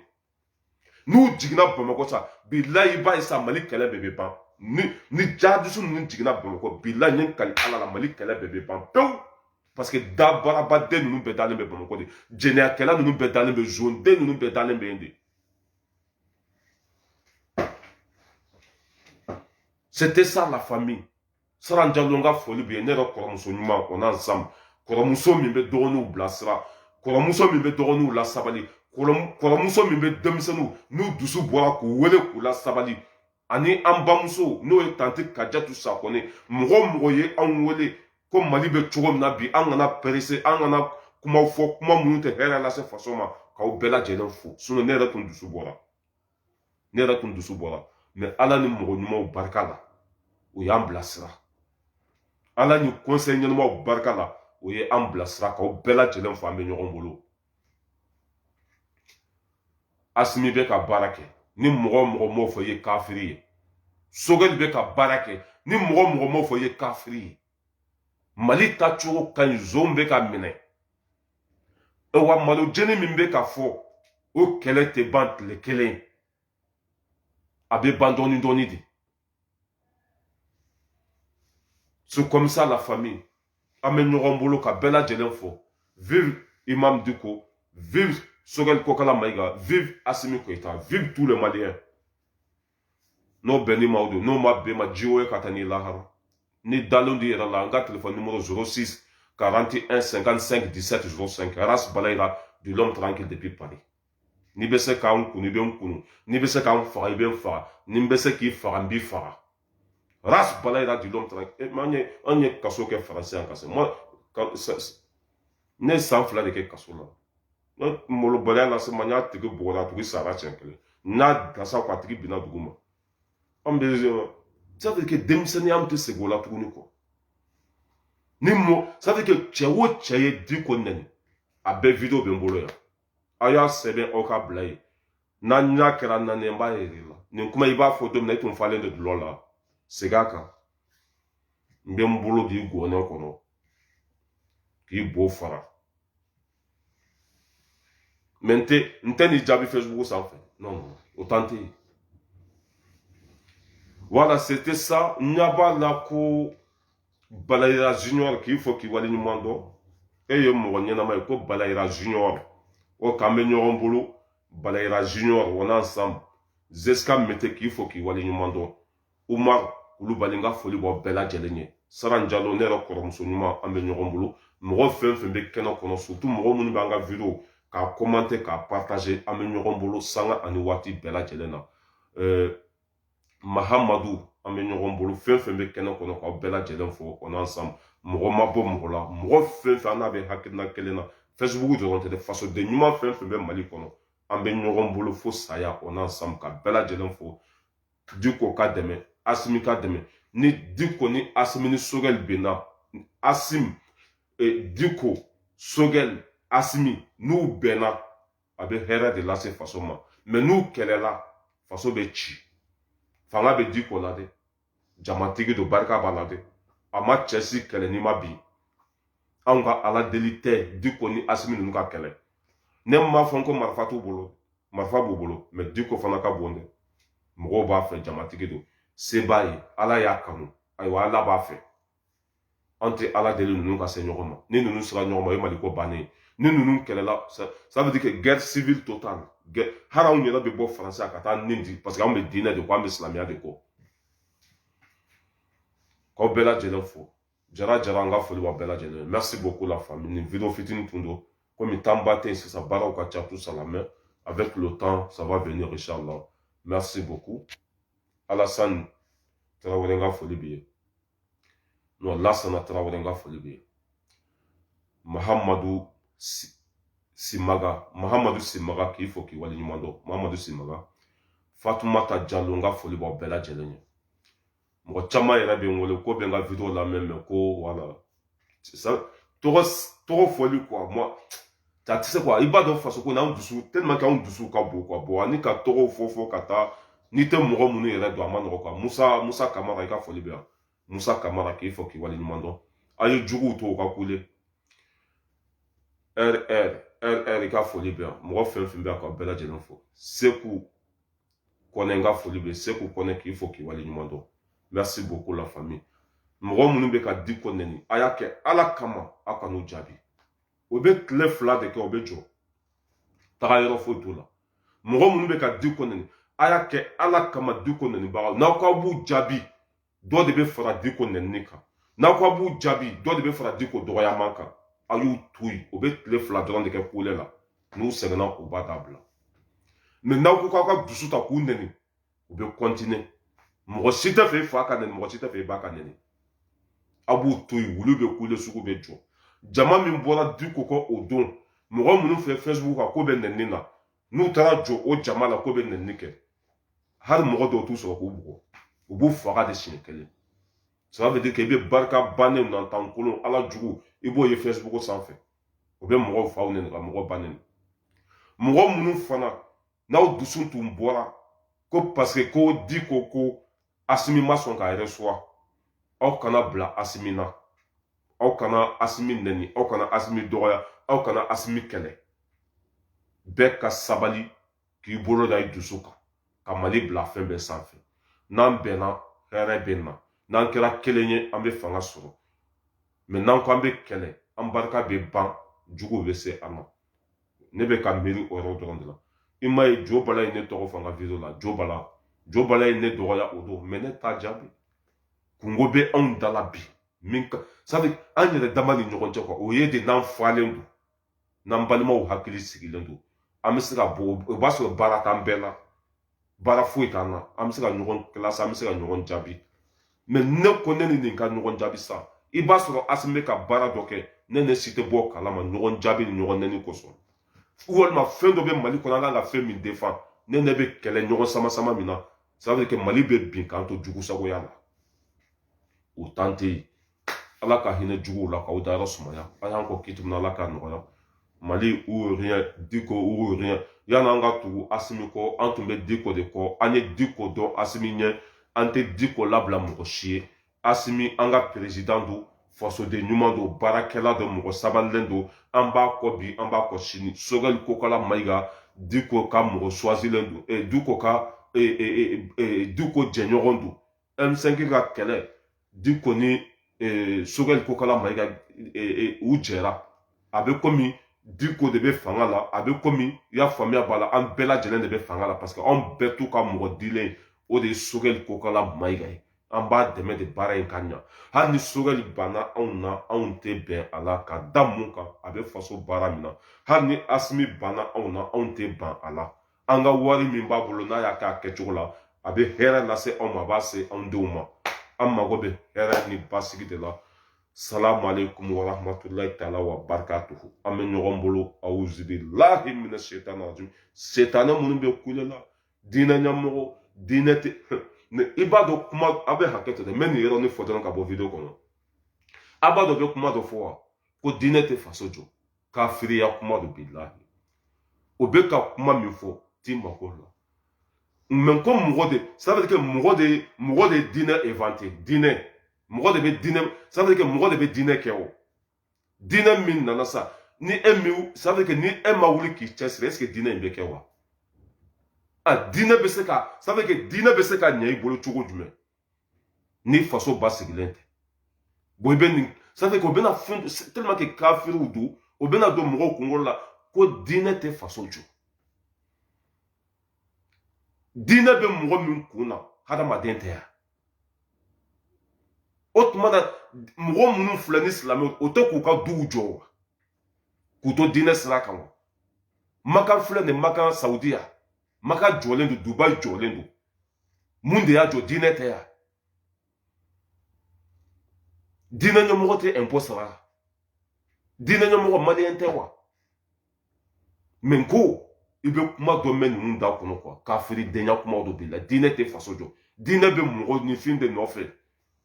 n'u jiginna bamakɔ sa bilahi i b'a ye sa mali kɛlɛ bɛɛ bɛ ban ni ni jihadisi ninnu jiginna bamakɔ bilahi n ye n kali ala la mali kɛlɛ bɛɛ bɛ ban pewu parce que dabaarabaden ninnu bɛɛ dalen bɛ bamakɔ de jɛnɛyakɛla ninnu bɛɛ dalen bɛ zonden ninnu bɛɛ dalen bɛ yen de c'était ça la famille saran jalo ka foli b'i ye ne yɛrɛ kɔrɔmuso ɲuman on est ensemble kɔrɔmuso min bɛ dɔgɔninw bilasira kɔrɔmuso min bɛ dɔgɔninw lasabali kɔrɔmuso min bɛ denmisɛnninw n'u dusu bɔra k'u wele k'u lasabali ani an bamuso n'o ye tante kajatu sakɔne mɔgɔ mɔgɔ ye anw wele ko mali bɛ cogo min na bi an kana perese an kana kumaw fɔ kuma minnu tɛ hɛrɛ lase faso ma k'aw bɛɛ lajɛlen fo sinɔn ne yɛrɛ tun dusu bɔra ne yɛrɛ tun dusu bɔra mɛ ala ni mɔgɔ ɲumanw barika la u y'an bilasira ala ni kɔnsɛyi ɲɛnamaw barika la o ye an bilasira k'aw bɛɛ lajɛlen fo an bɛ ɲɔgɔn bolo asimi bɛ ka baara kɛ ni mɔgɔ o mɔgɔ m'o fɔ i ye kafiri ye sogɛli bɛ ka baara kɛ ni mɔgɔ o mɔgɔ m'o fɔ i ye kafiri ye mali taacogo ka ɲi zonw bɛ ka minɛ wa malo jeni min bɛ ka fɔ o kɛlɛ tɛ ban tile kelen a bɛ ban dɔɔni dɔɔni de c'est comme ça la famille an bɛ ɲɔgɔn bolo k'aw bɛɛ lajɛlen fo vive imam diko vive sogɛli kokala mayiga vive asimi goyita vive tous les maliens n'o bɛn ni maaw don n'o ma bɛn ma ji ye ka taa n'i lahara n'i dalen d'i yɛrɛ la an ka telefɔni nimoro zoro sisi karanti ɛn sɛnkan sɛnki disɛti zoro sɛnki ras balayira dit l'homme tranquille depuis paris n'i bɛ se ka n kunu i bɛ n kunu n'i bɛ se ka n faga i bɛ n faga ni n bɛ se k'i faga n b'i faga ras balayira dit l'homme tranquille eh, an ye an ye kaso kɛ faransi yan ka se ne ye san fila de kɛ kaso la ne malobaliya na se ma n y'a tigi bɔgɔda a tigi sara siɲɛ kelen n'a gasa ko a tigi binna dugu ma an bɛ sadi kɛ denmisɛnninya an tɛ segin o la tuguni kɔ ni mɔ sadi kɛ cɛ o cɛ ye di ko nɛni a bɛɛ video bɛ n bolo yan aw y'a sɛbɛn aw ka bila yen n'aw ɲa kɛra naani n b'a yir'aw la nin kuma i b'a fɔ don min na i tun falen de dulɔ la segin a kan n bɛ n bolo k'i gɔnɛ kɔnɔ k'i bo fara mɛ n tɛ n tɛ nin jaabi fɛsibuku sanfɛ non o tan tɛ yen voilà c'était ça n ɲɛ b'a la ko balayira junior k'i fo k'i wale ɲuman dɔn e ye mɔgɔ ɲɛnama ye ko balayira junior o k'an bɛ ɲɔgɔn bolo balayira junior on est ensemble jusqu'à mete k'i fo k'i wale ɲuman dɔn umaru kulubali n ka foli b'aw bɛɛ lajɛlen ye saran jalo ne yɛrɛ kɔrɔmuso ɲuman an bɛ ɲɔgɔn bolo mɔgɔ fɛn fɛn bɛ kɛnɛ kɔnɔ surtout mɔgɔ minnu b'an ka video k'a kɔmante k'a partaze an bɛ ɲɔgɔn bolo sanga ani waati bɛɛ lajɛlen na mahamadu an bɛ ɲɔgɔn bolo fɛn fɛn bɛ kɛnɛ kɔnɔ k'aw bɛɛ lajɛlen fo on est ensemble mɔgɔ ma bɔ mɔgɔ la mɔgɔ fɛn fɛn an n'a bɛ hakilina kelen na fɛsibuku dɔrɔn tɛ dɛ fasoden ɲuman fɛn fɛn bɛ mali kɔnɔ an bɛ ɲɔgɔn bolo fo saya on est ensemble k'aw bɛɛ lajɛlen fo diko ka dɛmɛ asimi ka dɛmɛ ni diko ni asimi ni sogɛli bɛnna asimi e, diko sogɛli asimi n'u bɛnna a bɛ hɛrɛ de lase faso ma mɛ n'u kɛlɛla faso bɛ ci fanga bɛ diko la dɛ jamatigi don barika b'a la dɛ a ma cɛ si kɛlɛ n'i ma bin anw ka ala deli tɛ diko ni asimi ninnu ka kɛlɛ ne m'a fɔ ko marifa t'u bolo marifa b'u bolo mɛ diko fana ka bon dɛ mɔgɔw b'a fɛ jamatigi don se b'a ye ala y'a kanu ayiwa ala b'a fɛ an tɛ ala deli ninnu ka se ɲɔgɔn ma ni ninnu sera ɲɔgɔn ma o ye mali ko bannen ye ni ninnu kɛlɛla ça veut dire que guerre civile totale hali anw yɛrɛ bɛ bɔ faransi ka taa an ni di parce que anw bɛ diinɛ de kɔ an bɛ silamɛya de kɔ k'aw bɛɛ lajɛlen fo jara jara an ka foli b'a bɛɛ lajɛlen merci beaucoup la famille nin video fitini tun don komi temps ba tɛ yen sisan baaraw ka ca tout ça là mais avec le temps ça va venir inchallah merci beaucoup alassane tarawele n ka foli b'i ye non lasana tarawele n ka foli b'i ye mahamadu simaga mahamadu simaga k'i fo k'i waleɲuman dɔn mahamadu simaga fatumata jalo n ka foli b'aw bɛɛ lajɛlen ye mɔgɔ caman yɛrɛ bɛ n wele k'u bɛ n ka video lamɛn mɛ ko wala tɔgɔ tɔgɔ fɔli quoi mɔgɔ tɛ se quoi i b'a dɔn faso ko n'an dusu tellement que anw dusu ka bon quoi bon ani ka tɔgɔw fɔ fɔ ka taa n'i tɛ mɔgɔ minnu yɛrɛ dɔn a man nɔgɔ quoi musa musa kamara i ka foli bɛ yan musa kamara k'i fo k'i wale ɲuman dɔn a ye juguw to u ka kule rr rr i ka foli bɛ yan mɔgɔ fɛn fɛn bɛ yan k'aw bɛɛ lajɛlen fo seku kɔnɛ n ka foli bɛ seku kɔnɛ k'i fo k'i wale ɲuman dɔn merci beaucoup la famille mɔgɔ minnu bɛ ka diko nɛni a y'a kɛ ala kama aw kan'u jaabi o bɛ tile fila de kɛ o bɛ jɔ tagayɔrɔ foyi t'o la mɔgɔ minnu bɛ ka diko nɛni a y'a kɛ ala kama diko nɛnibagaw n'aw k'aw b'u jaabi dɔ de bɛ fara diko nɛni kan n'aw ko a b'u jaabi dɔ de bɛ fara diko dɔgɔyama kan a y'u to yen o bɛ tile fila dɔrɔn de kɛ kule la n'u sɛgɛnna u b'a dabila mɛ n'aw ko k'aw ka dusu ta k'u nɛni u bɛ continuer mɔgɔ si t'a fɛ fa ka nɛni mɔgɔ si t'a fɛ ba ka nɛni aw b'u to yen wulu bɛ kule sugu bɛ jɔ jama min bɔra diko kɔ o don mɔgɔ minnu fɛ facebook kan k'u bɛ nɛni na n'u taara jɔ o jama la k'u bɛ nɛni kɛ hali mɔgɔ dɔw t'u sɔrɔ k'u bugɔ u b'u faga de siɲɛ kelen ça veut dire que i bɛ barika bannen na tan kolon alajugu i b'o ye facebook sanfɛ o bɛ mɔgɔw faw nɛni ka mɔgɔ ba nɛni mɔgɔ minnu fana n'aw dusu tun bɔra ko parce que ko diko ko asimi ma sɔn k'a recevoir aw kana bila asimi na aw kana asimi nɛni aw kana asimi dɔgɔya aw kana asimi kɛlɛ bɛɛ ka sabali k'i bolo da i dusu kan ka mali bila fɛn bɛɛ sanfɛ n'an bɛnna hɛrɛ bɛ na n'an kɛra kelen ye an bɛ fanga sɔrɔ mɛ n'an ko an bɛ kɛlɛ an barika bɛ ban juguw bɛ se an na ne bɛ ka miiri o yɔrɔ dɔrɔn de la i m'a ye jo bala ye ne tɔgɔ fɔ a ka video la jo bala jo bala ye ne dɔgɔya o don mɛ ne t'a jaabi kunko bɛ anw da la bi min ka sabu an yɛrɛ dama ni ɲɔgɔn cɛ kuma o ye de n'an falen don n'an balimaw hakili sigilen don an bɛ se ka bɔ o b'a sɔrɔ baara t'an bɛɛ la baara foyi t'an na an bɛ se ka ɲɔgɔn kilasi an bɛ se ka ɲɔgɔn jaabi mɛ ne ko ne ni nin ka ɲɔgɔn jaabi sa i b'a sɔrɔ asimi bɛ ka baara dɔ kɛ ne n'e si tɛ bɔ a kalama ɲɔgɔn jaabi ni ɲɔgɔn nɛni kosɔn walima fɛn dɔ bɛ mali kɔnɔ an kan ka fɛn min defan ne n'e bɛ kɛlɛ ɲɔgɔn sama sama min na ça veut dire que mali bɛ bin k'an to jugusagoya la o tan tɛ yen ala ka hinɛ juguw la k'u dayɔrɔ sumaya u y'an kɔn kiti ala ka nɔgɔya mamudu diko o yanni an ka tugu asimi kɔ an tun bɛ diko de kɔ an ye diko dɔn asimi ɲɛ an tɛ diko labila mɔgɔ si ye asimi an ka perezidan don fasoden ɲuman don baarakɛla don mɔgɔ sabalilen don an b'a kɔ bi an b'a kɔ sini sogɛli kokala mayiga diko ka mɔgɔ suwasilen don eh, diko ka eh, eh, eh, eh, diko jɛɲɔgɔn don M5 ka kɛlɛ diko ni eh, sogɛli kokala mayiga eh, u jɛra a bɛ komi diko de bɛ fanga la a bɛ komi i y'a faamuya b'a la an bɛɛ lajɛlen de bɛ fanga la parce que anw bɛɛ t'u ka mɔgɔ dilen o de ye sogɛli kokala mayiga ye an b'a dɛmɛ de baara in ka ɲa hali ni sogɛli banna anw na anw tɛ ban a la ka da mun kan a bɛ faso baara min na hali ni asimi banna anw na anw tɛ ban a la an ka wari min b'a bolo n'a y'a k'a kɛcogo la a bɛ hɛrɛ lase anw ma a b'a se anw denw ma an mago bɛ hɛrɛ ni basigi de la salamu aleykum wa rahmatulahi taala wa barakatuhu an bɛ ɲɔgɔn bolo awuzubilahi mina setani rajim setanɛ minnu bɛ kule la diinɛ ɲɛmɔgɔ diinɛ tɛ i b'a dɔn kuma a bɛ hakɛ to dɛ n bɛ nin yɔrɔnin fɔ dɔrɔn ka bɔ video kɔnɔ a b'a dɔn bɛ kuma dɔ fɔ wa ko diinɛ tɛ faso jɔ kafiriya kuma don bilahi o bɛ ka kuma min fɔ t'i mako la mɛ ko mɔgɔ de ça veut dire que mɔgɔ de mɔgɔ de diinɛ inventé diinɛ mɔgɔ de bɛ diinɛ ça veut dire que mɔgɔ de bɛ diinɛ kɛ o diinɛ min nana sa ni e min ça veut dire que ni e ma wuli k'i cɛsiri est-ce que diinɛ in bɛ kɛ wa a diinɛ bɛ se ka ça veut dire que diinɛ bɛ se ka ɲɛ i bolo cogo jumɛn ni faso basigilen tɛ bɔn i bɛ nin sanfɛ o bɛna fɛn tɛlima kɛ kafiriw don o bɛna don mɔgɔw kunkolo la ko diinɛ tɛ faso jɔ diinɛ bɛ mɔgɔ min kun na hadamaden tɛ yan o tuma na mɔgɔ minnu filɛ nin silamɛw tɛ k'u ka duw jɔ wa k'u to diinɛ sira kan wa makan filɛ nin makan saudiya maka jɔlen don dubayi jɔlen don mun de y'a jɔ diinɛ tɛ yan diinɛ ɲɛmɔgɔ tɛ impôt sara diinɛ ɲɛmɔgɔ maliyɛn tɛ wa mais n ko i bɛ kuma dɔ mɛn ninnu da kɔnɔ quoi kafiridenya kumaw dɔ b'i la diinɛ tɛ faso jɔ diinɛ bɛ mɔgɔninfin de nɔfɛ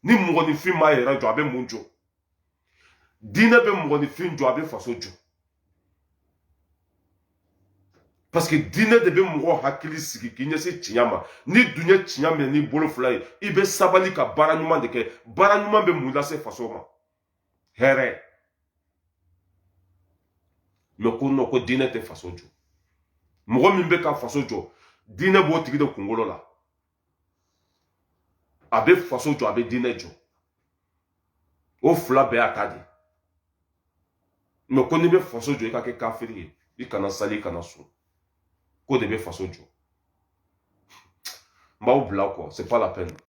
ni mɔgɔninfin m'a yɛrɛ jɔ a bɛ mun jɔ diinɛ bɛ mɔgɔninfin jɔ a bɛ faso jɔ parce que diinɛ de bɛ mɔgɔ hakili sigi k'i ɲɛsin tiɲɛ ma n'i dun ye tiɲɛ minɛ n'i bolo fila ye i bɛ sabali ka baara ɲuman de kɛ baara ɲuman bɛ mun lase faso ma hɛrɛ mais ko non ko diinɛ tɛ faso jɔ mɔgɔ min bɛ ka faso jɔ diinɛ b'o tigi de kunkolo la a bɛ faso jɔ a bɛ diinɛ jɔ o fila bɛɛ y'a ta de mais ko n'i bɛ faso jɔ i ka kɛ kafiri ye i kana sali i kana sun k'o de bɛ faso jɔ n b'aw bila kɔ c'est pas la peine